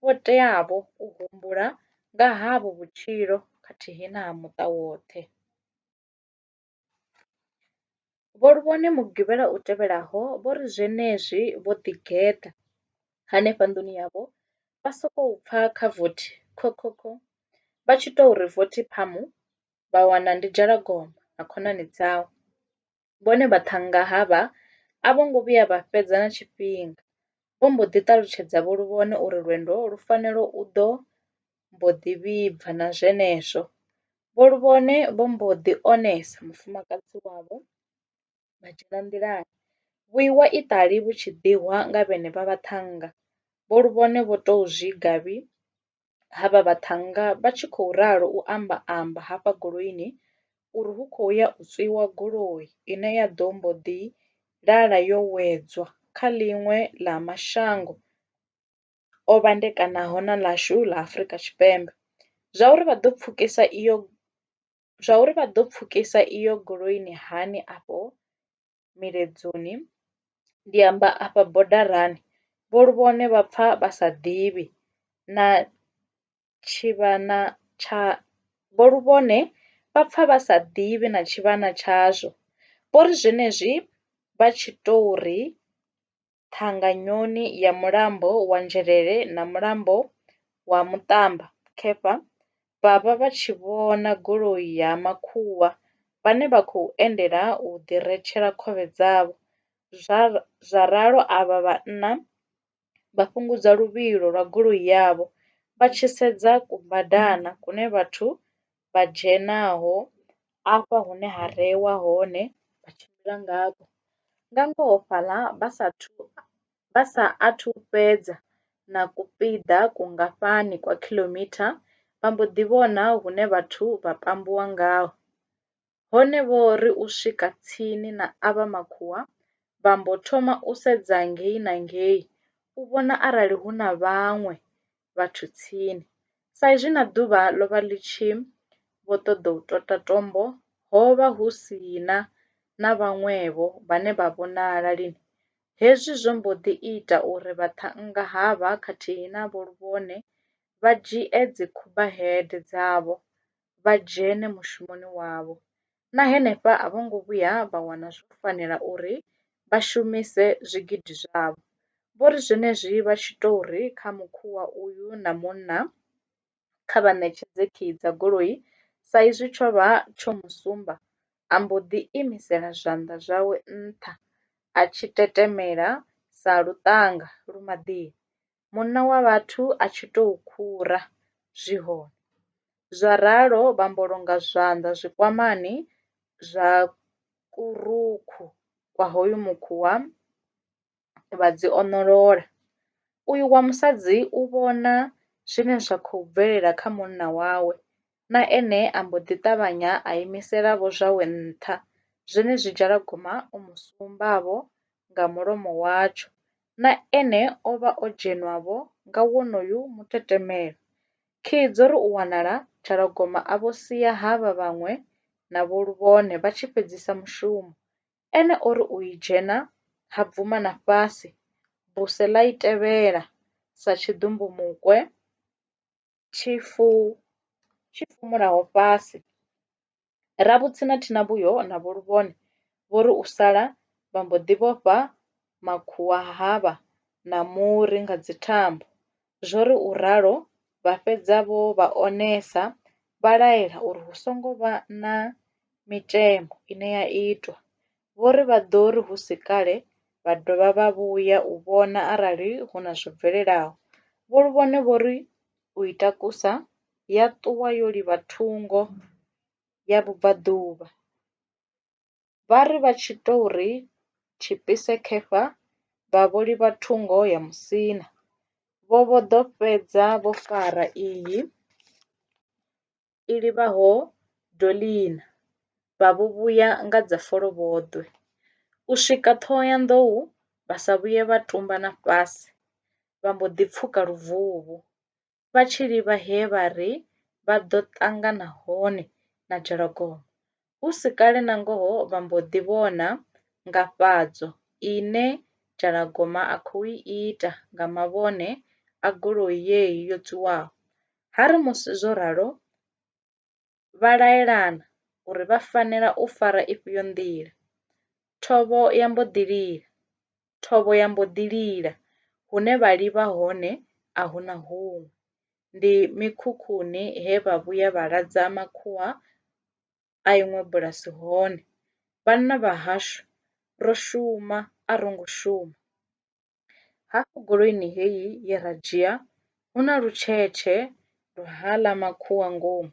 vho teavho u humbula nga havho vhutshilo khathihi na ha muṱa woṱhe. Vho Lubone mugivhela u tevhelaho vho ri zwenezwi vho ḓigeḓa henefha nḓuni yavho vha sokou pfa kha vothi khokhokho vha tshi tou ri vothi phamu vha wana ndi Dzhalagoma na khonani dzawe. Vhone vhaṱhannga havha a vho ngo vhuya vha fhedza na tshifhinga vho mbo ḓi ṱalutshedza Vho Lubone uri lwendo lu fanela u ḓo mbo ḓi vhibva na zwenezwo vho Luvhone vho mbo ḓi onesa mufumakadzi wavho vha dzhena nḓilani. Vhuiwa iṱali vhu tshi ḓihwa nga vhenevha vhaṱhannga vho Luvhone vho tou zwi gavhi ha vha vhaṱhannga vha tshi khou ralo u amba amba hafha goloini uri hu khou ya u tswiwa goloi ine ya ḓo mbo ḓi lala yo wedzwa kha ḽiṅwe ḽa mashango. o vhandekanaho na ḽashu ḽa Afrika Tshipembe. Zwauri vha ḓo pfukisa iyo zwauri vha ḓo pfukisa iyo goloini hani afho miledzoni ndi amba afha bodarani vho Luvhone vha pfa vha sa ḓivhi na tshivhana tsha vho Luvhone vha pfa vha sa ḓivhi na tshivhana tshazwo. Vho ri zwenezwi vha tshi tou ri. ṱhanganyoni ya mulambo wa Nzhelele na mulambo wa Muṱamba khefha vha vha vha tshi vhona goloi ya makhuwa vhane vha khou endela u ḓi retshela khovhe dzavho. Zwa ralo avha vhanna vha fhungudza luvhilo lwa goloi yavho vha tshi sedza kubadana kune vhathu vha dzhenaho afha hune ha reiwa hone vha tshimbila ngafho. Nga ngoho fhaḽa vha sa thu vha sa athu fhedza na kupiḓa kungafhani kwa khiḽomitha vha mbo ḓi vhona hune vhathu vha pambiwa ngaho. hone vho ri u swika tsini na avha makhuwa vha mbo thoma u sedza ngei na ngei u vhona arali hu na vhaṅwe vhathu tsini sa izwi na ḓuvha ḽo vha ḽi tshi vho ṱoḓa u tota tombo ho vha hu si na na vhaṅwevho vhane vha vhonala lini hezwi zwo mbo ḓi ita uri vha ṱhannga havha khathihi na vho Luvhone vha dzhie dzi khuba head dzavho vha dzhene mushumoni wavho, na henefha a vho ngo vhuya vha wana zwo fanela uri vha shumise zwigidi zwavho. Vho ri zwenezwi vha tshi tou ri kha mukhuvha uyu na munna kha vha ṋetshedze khiyi dza goloi sa izwi tsho vha tsho mu sumba, a mbo ḓi imisela zwanḓa zwawe nṱha a tshi tetemela sa luṱanga lu maḓini. munna wa vhathu a tshi tou khura, zwi hone. Zwa ralo vha mbulunga zwanḓa zwikwamani zwa kurukhu kwa hoyu mukhuwa vha dzi oṋolola. Uyu wa musadzi u vhona zwine zwa khou bvelela kha munna wawe na ene a mbo ḓi ṱavhanya a imisela vho zwawe nṱha, zwenezwi Dzhalagoma o mu sumba-vho nga mulomo watsho, na ene o vha o dzhenwa-vho nga wonoyu mutetemelo. Khii dzo ri u wanala, Dzhalagoma a vho sia havha vhaṅwe na Vho Luvhone vha tshi fhedzisa mushumo, ene o ri u i dzhena ha bvuma na fhasi, buse ḽa i tevhela sa tshiḓumbumukwe. Tshifu tshi fhumulaho fhasi. Ravhutsi na Thinavhuyo na Vho Luvhone vho ri u sala vha mbo ḓi vhofha makhuwa havha na muri nga dzithambo. Zwo ri u ralo vha fhedza vho vha onesa vha laela uri hu songo vha na mitshemo ine ya itwa vho ri vha ḓo ri hu si kale vha dovha vha vhuya u vhona arali hu na zwo bvelelaho. Vho Luvhone vho ri u i takusa ya ṱuwa yo livha thungo ya vhubvaḓuvha. Vha ri vha tshi tou ri tshipise khefha vha vho livha thungo ya musina. Vho vho ḓo fhedza vho fara iyi. i livhaho Dolina, vha vho vhuya nga dza folovhoḓwe. U swika Ṱhohoyanḓou vha sa vhuye vha tumba na fhasi, vha mbo ḓi pfuka luvuvhu, vha tshi livha he vha ri vha ḓo ṱangana hone na Dzhalagogo. Hu si kale nangoho vha mbo ḓi vhona ngafhadzo ine Dzhalagoma a khou i ita nga mavhone a goloi yeyi yo tswiwaho. Ha ri musi zwo ralo vha laelana uri vha fanela u fara ifhio nḓila. Thovho ya mbo ḓi lila. thovho ya mbo ḓi lila, hune vha livha hone a hu na huṅwe. Ndi mikhukhuni he vha vhuya vha ladza makhuwa a iṅwe bulasi hone. Vhanna vha hashu ro shuma a ro ngo shuma. Hafhu goloini heyi ye ra dzhia hu na lutshetshe lwa haḽa makhuwa ngomu.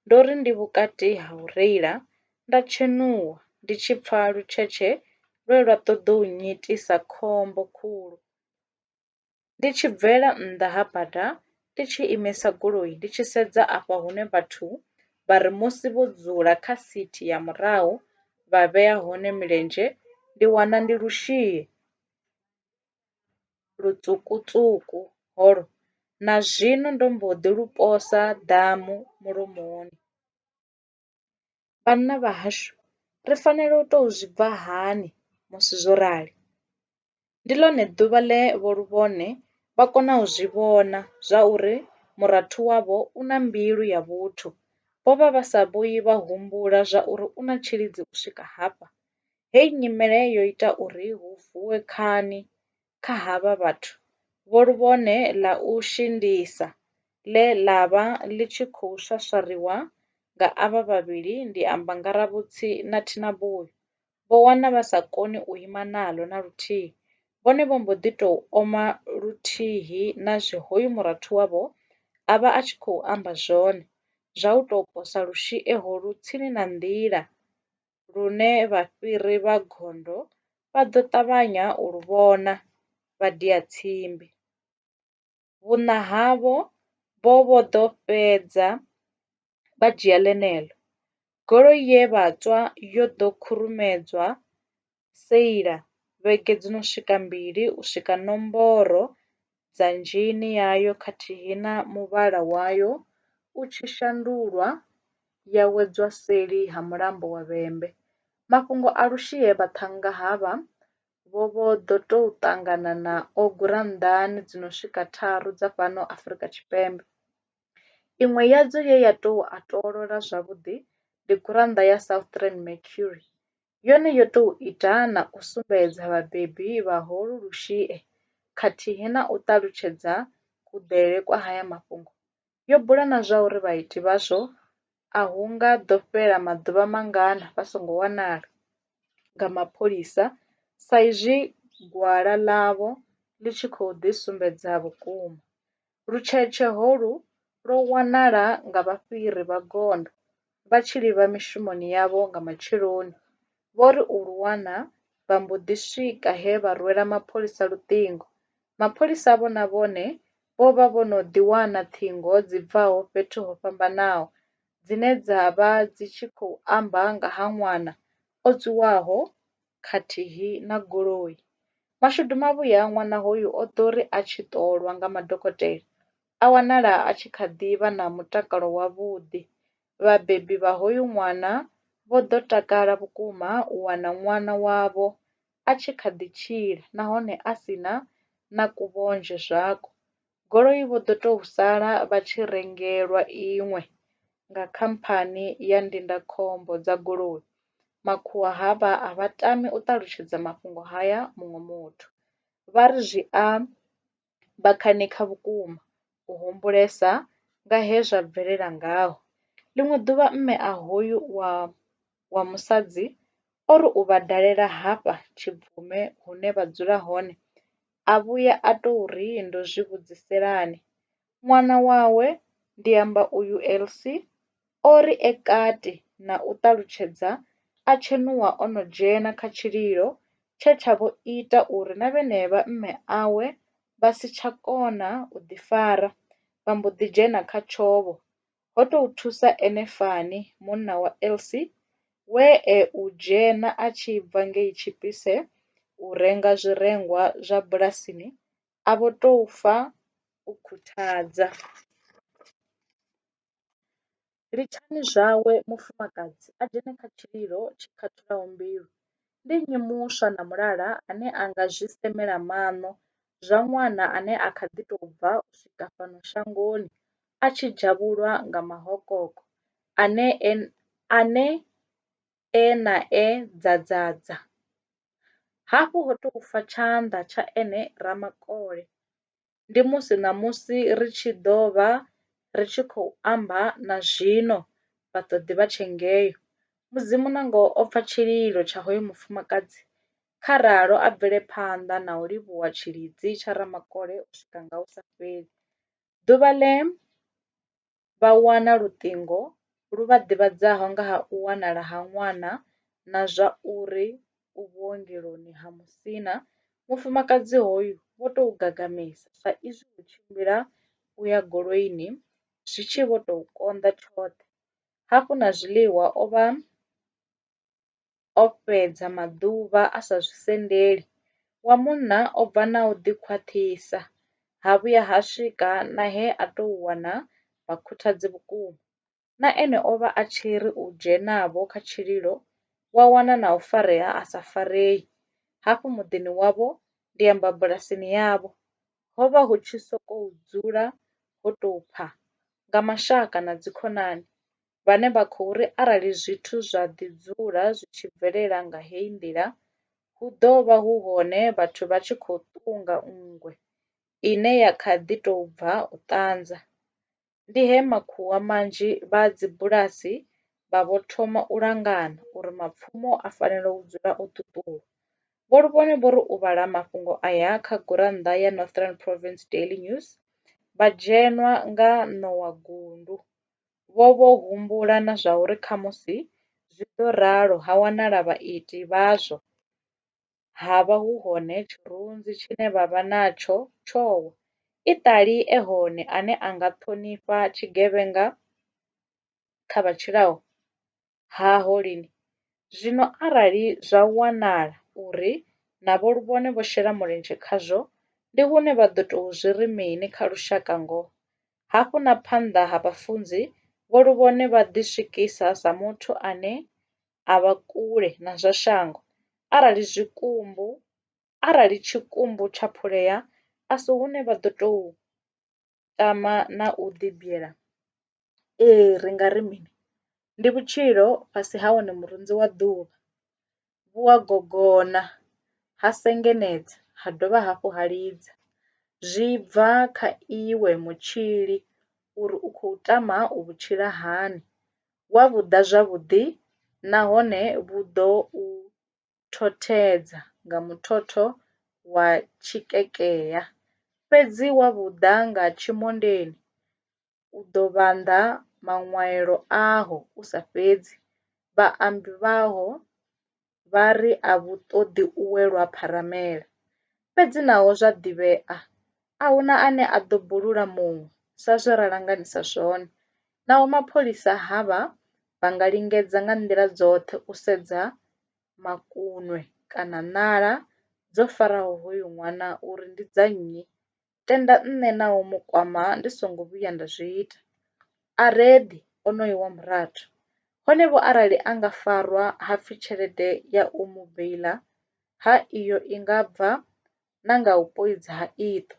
Ndo ri ndi vhukati ha u reila nda tshenuwa ndi tshi pfa lutshetshe lwe lwa ṱoḓa u nnyitisa khombo khulu. Ndi tshi bvela nnḓa ha bada ndi tshi imisa goloi ndi tshi sedza afha hune vhathu vha ri musi vho dzula kha sithi ya murahu vha vhea hone milenzhe ndi wana ndi lwushie. lutswuku-tswuku holo, na zwino ndo mbo ḓi lu posa ḓamu mulomoni. Vhanna vhahashu, ri fanela u tou zwi bva hani musi zwo rali? Ndi ḽone ḓuvha ḽe vhoḽuvhone vha kona u zwi vhona zwauri murathu wavho u na mbilu ya vhuthu. Vho vha vha sa vhuyi vha humbula zwauri u na tshilidzi u swika hafha. Hei nyimele yo ita uri hu vuwe khani kha havha vhathu vho luvhone ḽa u shindisa ḽe ḽa vha ḽi tshi khou swaswariwa nga avha vhavhili ndi amba Ngaravhutsi na Thinaboi. Vho wana vha sa koni u ima naḽo na luthihi, vhone vho mbo ḓi tou oma luthihi na zwe hoyu murathu wavho a vha a tshi khou amba zwone zwa u tou posa lushie holu tsini na nḓila lune vhafhiri vha gondo vha ḓo ṱavhanya u lu vhona, vha dia tsimbi. Vhuṋa havho vho vho ḓo fhedza vha dzhia ḽeneḽo. Goloi ye vha tswa yo ḓo khurumedzwa seila vhege dzi no swika mbili u swika nomboro dzanzheni yayo khathihi na muvhala wayo u tshi shandulwa ya wedzwa seli ha mulambo wa vhembe. Mafhungo a Lushie vhaṱhannga havha vho vho ḓo tou ṱangana nao gurannḓani dzi no swika tharu dza fhano Afrika Tshipembe. Iṅwe yadzo ye ya tou a toolola zwavhuḓi ndi gurannḓa ya Southern Mercury yone yo tou ita na u sumbedza vhabebi vha holu lushie khathihi na u ṱalutshedza kuḓele kwa haya mafhungo, yo bula na zwa uri vhaiti vhazwo a hu nga ḓo fhela maḓuvha mangana vha songo wanala nga mapholisa saizwi gwala ḽavho ḽi tshi khou ḓisumbedza vhukuma Lutshetshe holu lwo wanala nga vhafhiri vha gondo vha tshi livha mishumoni yavho nga matsheloni. Vho ri u lu wana, vha mbo ḓi swika he vha rwela mapholisa luṱingo. Mapholisa avho na vhone vho vha vho no ḓi wana ṱhingo dzi bvaho fhethu ho fhambanaho dzine dza vha dzi tshi khou amba nga ha ṅwana o tswiwaho. khathihi na goloi. Mashudu mavhuya ṅwana hoyu o ḓo ri a tshi ṱolwa nga madokotela a wanala a tshi kha ḓi vha na mutakalo wavhuḓi. Vhabebi vha hoyu ṅwana vho ḓo takala vhukuma u wana ṅwana wavho a tshi kha ḓi tshila nahone a si na na kuvhonzhe zwako. goloi vho ḓo tou sala vha tshi rengelwa iṅwe nga khamphani ya ndindakhombo dza goloi. Makhuwa havha a vha tami u ṱalutshedza mafhungo haya muṅwe muthu. Vha ri zwi a vha khanikha vhukuma u humbulesa nga he zwa bvelela ngaho. Ḽiṅwe ḓuvha mme a hoyu wa wa musadzi o ri u vha dalela hafha Tshibvume hune vha dzula hone a vhuya a tou ri, Ndo zwi vhudziselani? Ṅwana wawe, ndi amba uyu Elsie, o ri e kati na u ṱalutshedza a tshenuwa o no dzhena kha tshililo tshe tsha vho ita uri na vhenevha mme awe vha si tsha kona u ḓifara, vha mbo ḓi dzhena kha tshovho. ho tou thusa ene fani munna wa Elsie we e u dzhena a tshi bva ngei Chipisse u renga zwirengwa zwa bulasini a vho tou fa u khuthadza. Litshani zwawe mufumakadzi a dzhene kha tshililo tshi khathulaho mbilu. Ndi nnyi muswa na mulala ane a nga zwi semela maṋo zwa ṅwana ane a kha ḓi tou bva u swika fhano shangoni a tshi dzhavhulwa nga mahokoko ane e na e ḓadzadza. Hafhu ho tou fa tshanḓa tsha ene Ramakole ndi musi ṋamusi ri tshi ḓo vha ri tshi khou amba na zwino vhaṱoḓi vha tshe ngeo. Mudzimu na ngoho o pfa tshililo tsha hoyu mufumakadzi, kha ralo a bvele phanḓa na u livhuwa tshilidzi tsha Ramakole u swika nga hu sa fheli. Ḓuvha ḽe vha wana luṱingo lu vha ḓivhadzaho nga ha u wanala ha ṅwana na zwa uri u vhuongeloni ha Musina, mufumakadzi hoyu vho tou gagamela sa izwi u tshimbila u ya goloini zwi tshi vho tou konḓa tshoṱhe, hafhu na zwiḽiwa o vha o fhedza maḓuvha a sa zwi sendeli, wa munna o bva na u ḓi khwaṱhisa, ha vhuya ha swika na he a tou wana vhakhuthadzi vhukuma. Na ene o vha a tshi ri u dzhenavho kha tshililo, wa wana na u farea a sa farei. Hafhu muḓini wavho, ndi amba bulasini yavho, ho vha hu tshi sokou dzula ho tou pha! Nga mashaka na dzikhonani, vhane vha khou ri arali zwithu zwa ḓi dzula zwi tshi bvelela nga heyi nḓila, hu ḓo vha hu hone vhathu vha tshi khou ṱunga nngwe ine ya kha ḓi tou bva u ṱanza. Ndi he makhuwa manzhi vha dzibulasi vha vho thoma u langana uri mapfumo a fanela u dzula o ṱuṱulwa. Vho Lubone vho ri u vhala mafhungo aya kha gurannḓa ya Northern Province Daily News, vha dzhenwa nga ṋowa gundu. vho vho humbula na zwauri khamusi zwi ḓo ralo ha wanala vhaiti vhazwo ha vha hu hone tshirunzi tshine vha vha natsho tsho wa, i ṱali e hone ane a nga ṱhonifha tshigevhenga kha vha tshilaho. ha holini. Zwino arali zwa wanala uri na vho luvhone vho shela mulenzhe khazwo, ndi hune vha ḓo tou zwi ri mini kha lushaka ngoho? Hafhu na phanḓa ha vhafunzi, vho luvhone vha ḓiswikisa sa muthu ane a vha kule na zwa shango. Arali zwikumbu, arali tshikumbu tsha phulea, a si hune vha ḓo tou tama na u ḓi bvela ee ri nga ri mini ndi vhutshilo fhasi ha wone murunzi wa ḓuvha vhu a gogona ha sengenedza ha dovha hafhu ha lidza zwi bva kha iwe mutshili uri u khou tama u vhu tshila hani wa vhuḓa zwavhuḓi nahone vhu ḓo u thothedza nga muthotho wa tshikekea, fhedzi wa vhu ḓa nga tshimondeni, u ḓo vhanḓa maṅwaelo aho u sa fhedzi. Vhaambi vhaho vha ri a vhu ṱoḓi u welwa pharamele, Fhedzi naho zwa ḓivhea, a hu na ane a ḓo bulula muṅwe sa zwe ra langanisa zwone. Naho mapholisa havha vha nga lingedza nga nḓila dzoṱhe u sedza makunwe kana ṋala dzo faraho hoyu ṅwana uri ndi dza nnyi, tenda nṋe na u mu kwama ndi songo vhuya nda zwi ita, a re ḓi onoyo wa murathu. Hone-vho arali a nga farwa ha pfi tshelede ya u mu beiḽa ha iyo i nga bva na nga u poidza ha iṱo.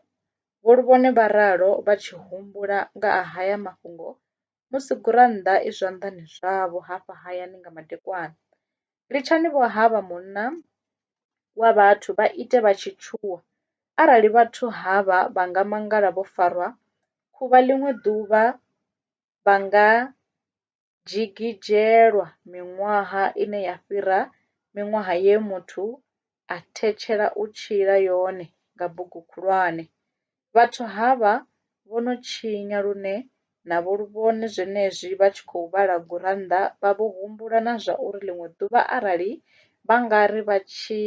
Vho Luvhone vha ralo vha tshi humbula nga a haya mafhungo musi gurannḓa i zwanḓani zwavho hafha hayani nga madekwana. Litshani vho havha munna wa vhathu vha ite vha tshi tshuwa, arali vhathu havha vha nga mangala vho farwa khuvha ḽiṅwe ḓuvha vha nga dzhigidzhelwa miṅwaha ine ya fhira miṅwaha ye muthu a thetshela u tshila yone nga bugu khulwane. Vhathu havha vho no tshinya lune na vho lu vhone zwenezwi vha tshi khou vhala gurannḓa vha vho humbula na zwa uri ḽiṅwe ḓuvha arali vha nga ri vha tshi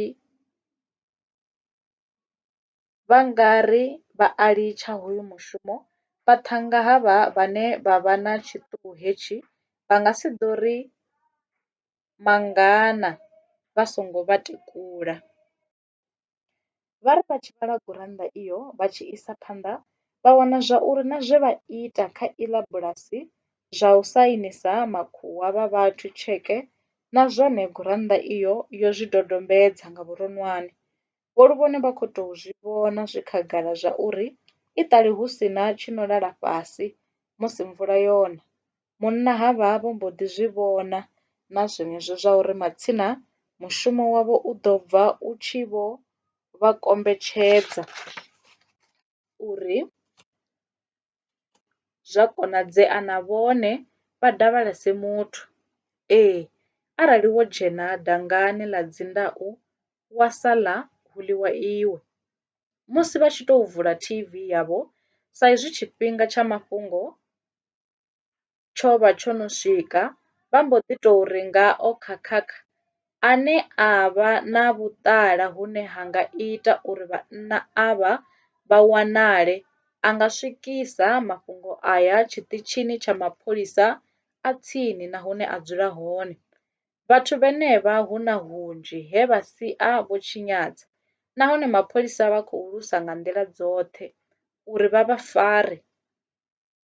vha nga ri vha a litsha hoyu mushumo. Vhaṱhannga havha vhane vha vha na tshiṱuhu hetshi vha nga si ḓo ri mangana vha songo vha tekula. Vha ri vha tshi vhala gurannḓa iyo vha tshi isa phanḓa vha wana zwa uri na zwe vha ita kha iḽa bulasi zwa u sainisa makhuwa vha vhathu tsheke na zwone gurannḓa iyo yo zwi dodombedza nga vhuronwane. vho ri vhone vha khou tou zwi vhona zwi khagala zwauri i ṱali hu si na tshi no lala fhasi musi mvula yo na. Munna havha vho mbo ḓi zwi vhona na zwenezwo zwa uri matsina mushumo wavho u ḓo bva u tshi vho vha kombetshedza. uri zwa konadzea na vhone vha davhalese muthu. Ee, arali wo dzhena dangani ḽa dzindau wa saḽa hu ḽiwa iwe. Musi vha tshi tou vula T_V yavho sa izwi tshifhinga tsha mafhungo tsho vha tsho no swika, vha mbo ḓi tou ri nga o khakhakha ane a vha na vhuṱala hune ha nga ita uri vhanna avha vha wanale a nga swikisa mafhungo aya tshiṱitshini tsha mapholisa a tsini na hune a dzula hone. Vhathu vhenevha hu na hunzhi he vha sia vho tshinyadza nahone mapholisa vha khou lwisa nga nḓila dzoṱhe uri vha vha fare.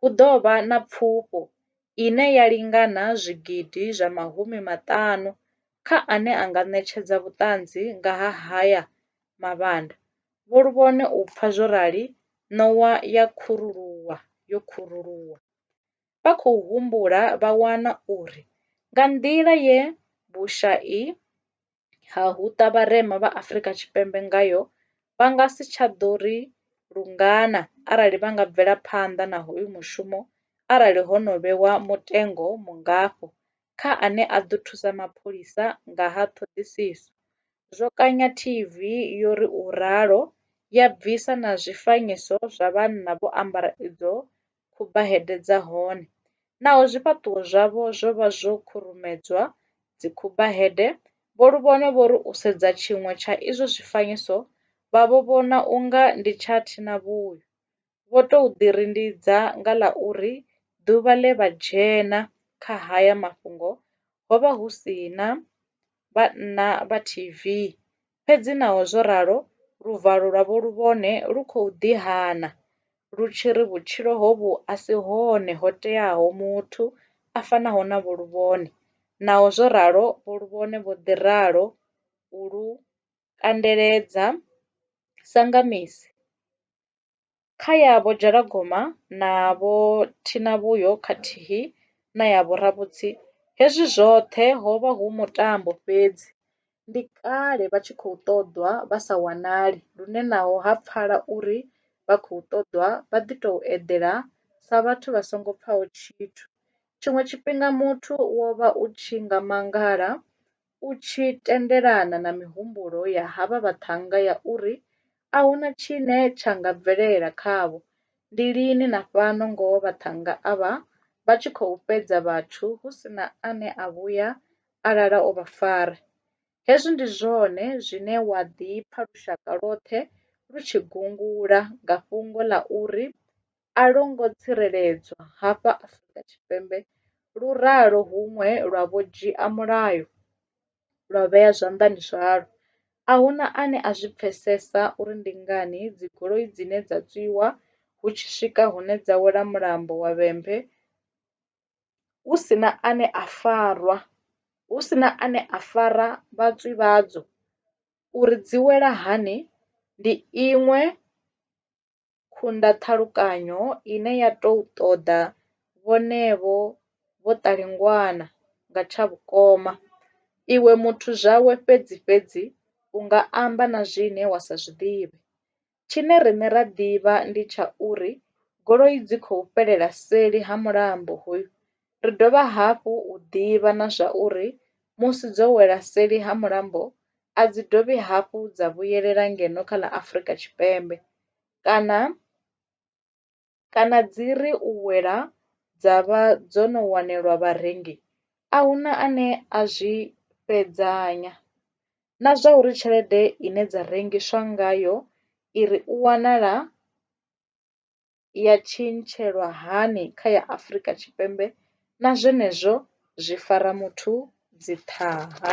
hu ḓo vha na pfufho ine ya lingana zwigidi zwa mahumi maṱanu kha ane a nga ṋetshedza vhuṱanzi nga ha haya mavhanda. Vho Luvhone u pfa zwo rali ṋowa ya khuruluwa yo khuruluwa. Vha khou humbula vha wana uri nga nḓila ye vhushai ha huṱa vharema vha Afrika Tshipembe ngayo, vha nga si tsha ḓo ri lungana arali vha nga bvela phanḓa na hoyu mushumo arali ho no vhewa mutengo mungafho kha ane a ḓo thusa mapholisa nga ha ṱhoḓisiso, zwo kanya TV yo ri u ralo, ya bvisa na zwifanyiso zwa vhanna vho ambara idzo khubaheḓe dza hone, naho zwifhaṱuwo zwavho zwo vha zwo khurumedzwa dzikhubaheḓe, Vho Luvhono vho ri u sedza tshiṅwe tsha izwo zwifanyiso vha vho vhona u nga ndi tsha thinavhuyo. Vho tou ḓirindidza nga ḽa uri ḓuvha ḽe vha dzhena kha haya mafhungo ho vha hu si na vhanna vha TV Fhedzi naho zwo ralo, luvalo lwa vhohulwane lu khou ḓi hana, lu tshi ri vhutshilo hovhu a si hone ho teaho muthu a fanaho na vhohulwane. Naho zwo ralo, vhohulwane vho ḓi ralo u lu kandeledza sa nga misi. Kha ya Vho Dzhalagoma na Vho Thinavhuyo khathihi na ya Vho Ravhutsi, hezwi zwoṱhe ho vha hu mutambo fhedzi. Ndi kale vha tshi khou ṱoḓwa vha sa wanali lune naho ha pfala uri vha khou ṱoḓwa vha ḓi tou eḓela sa vhathu vha songo pfaho tshithu. Tshiṅwe tshifhinga muthu wo vha u tshi nga mangala u tshi tendelana na mihumbulo ya havha vhaṱhannga ya uri a hu na tshine tsha nga bvelela khavho, ndi lini na fhano ngoho vhaṱhannga avha vha tshi khou fhedza vhathu hu si na ane a vhuya a lala o vha fara. Hezwi ndi zwone zwine wa ḓi pfa lushaka lwoṱhe lu tshi gungula nga fhungo ḽa uri a lwo ngo tsireledzwa hafha Afrika Tshipembe, lu ralo huṅwe lwa vho dzhia mulayo lwa vhea zwanḓani zwalwo. A hu na ane a zwi pfesesa uri ndi ngani dzigoloi dzine dza tswiwa hu tshi swika hune dza wela mulambo wa Vhembe hu si na ane a farwa, hu si na ane a fara vhatswi vhadzo uri dzi wela hani ndi iṅwe. khunda ṱhalukanyo ine ya tou ṱoḓa vhonevho vho ṱalingwana nga tsha vhukoma. Iwe muthu zwawe fhedzi fhedzi u nga amba na zwine wa sa zwi ḓivhe. Tshine riṋe ra ḓivha ndi tsha uri goloi dzi khou fhelela seli ha mulambo hoyu. Ri dovha hafhu u ḓivha na zwa uri musi dzo wela seli ha mulambo a dzi dovhi hafhu dza vhuyelela ngeno kha ḽa Afrika Tshipembe kana kana dzi ri u wela dza vha dzo no wanelwa vharengi a hu na ane a zwi fhedzanya. Na zwa uri tshelede ine dza rengiswa ngayo i ri u wanala ya tshintshelwa hani kha ya Afrika Tshipembe na zwenezwo zwi fara muthu dzi ṱhaha.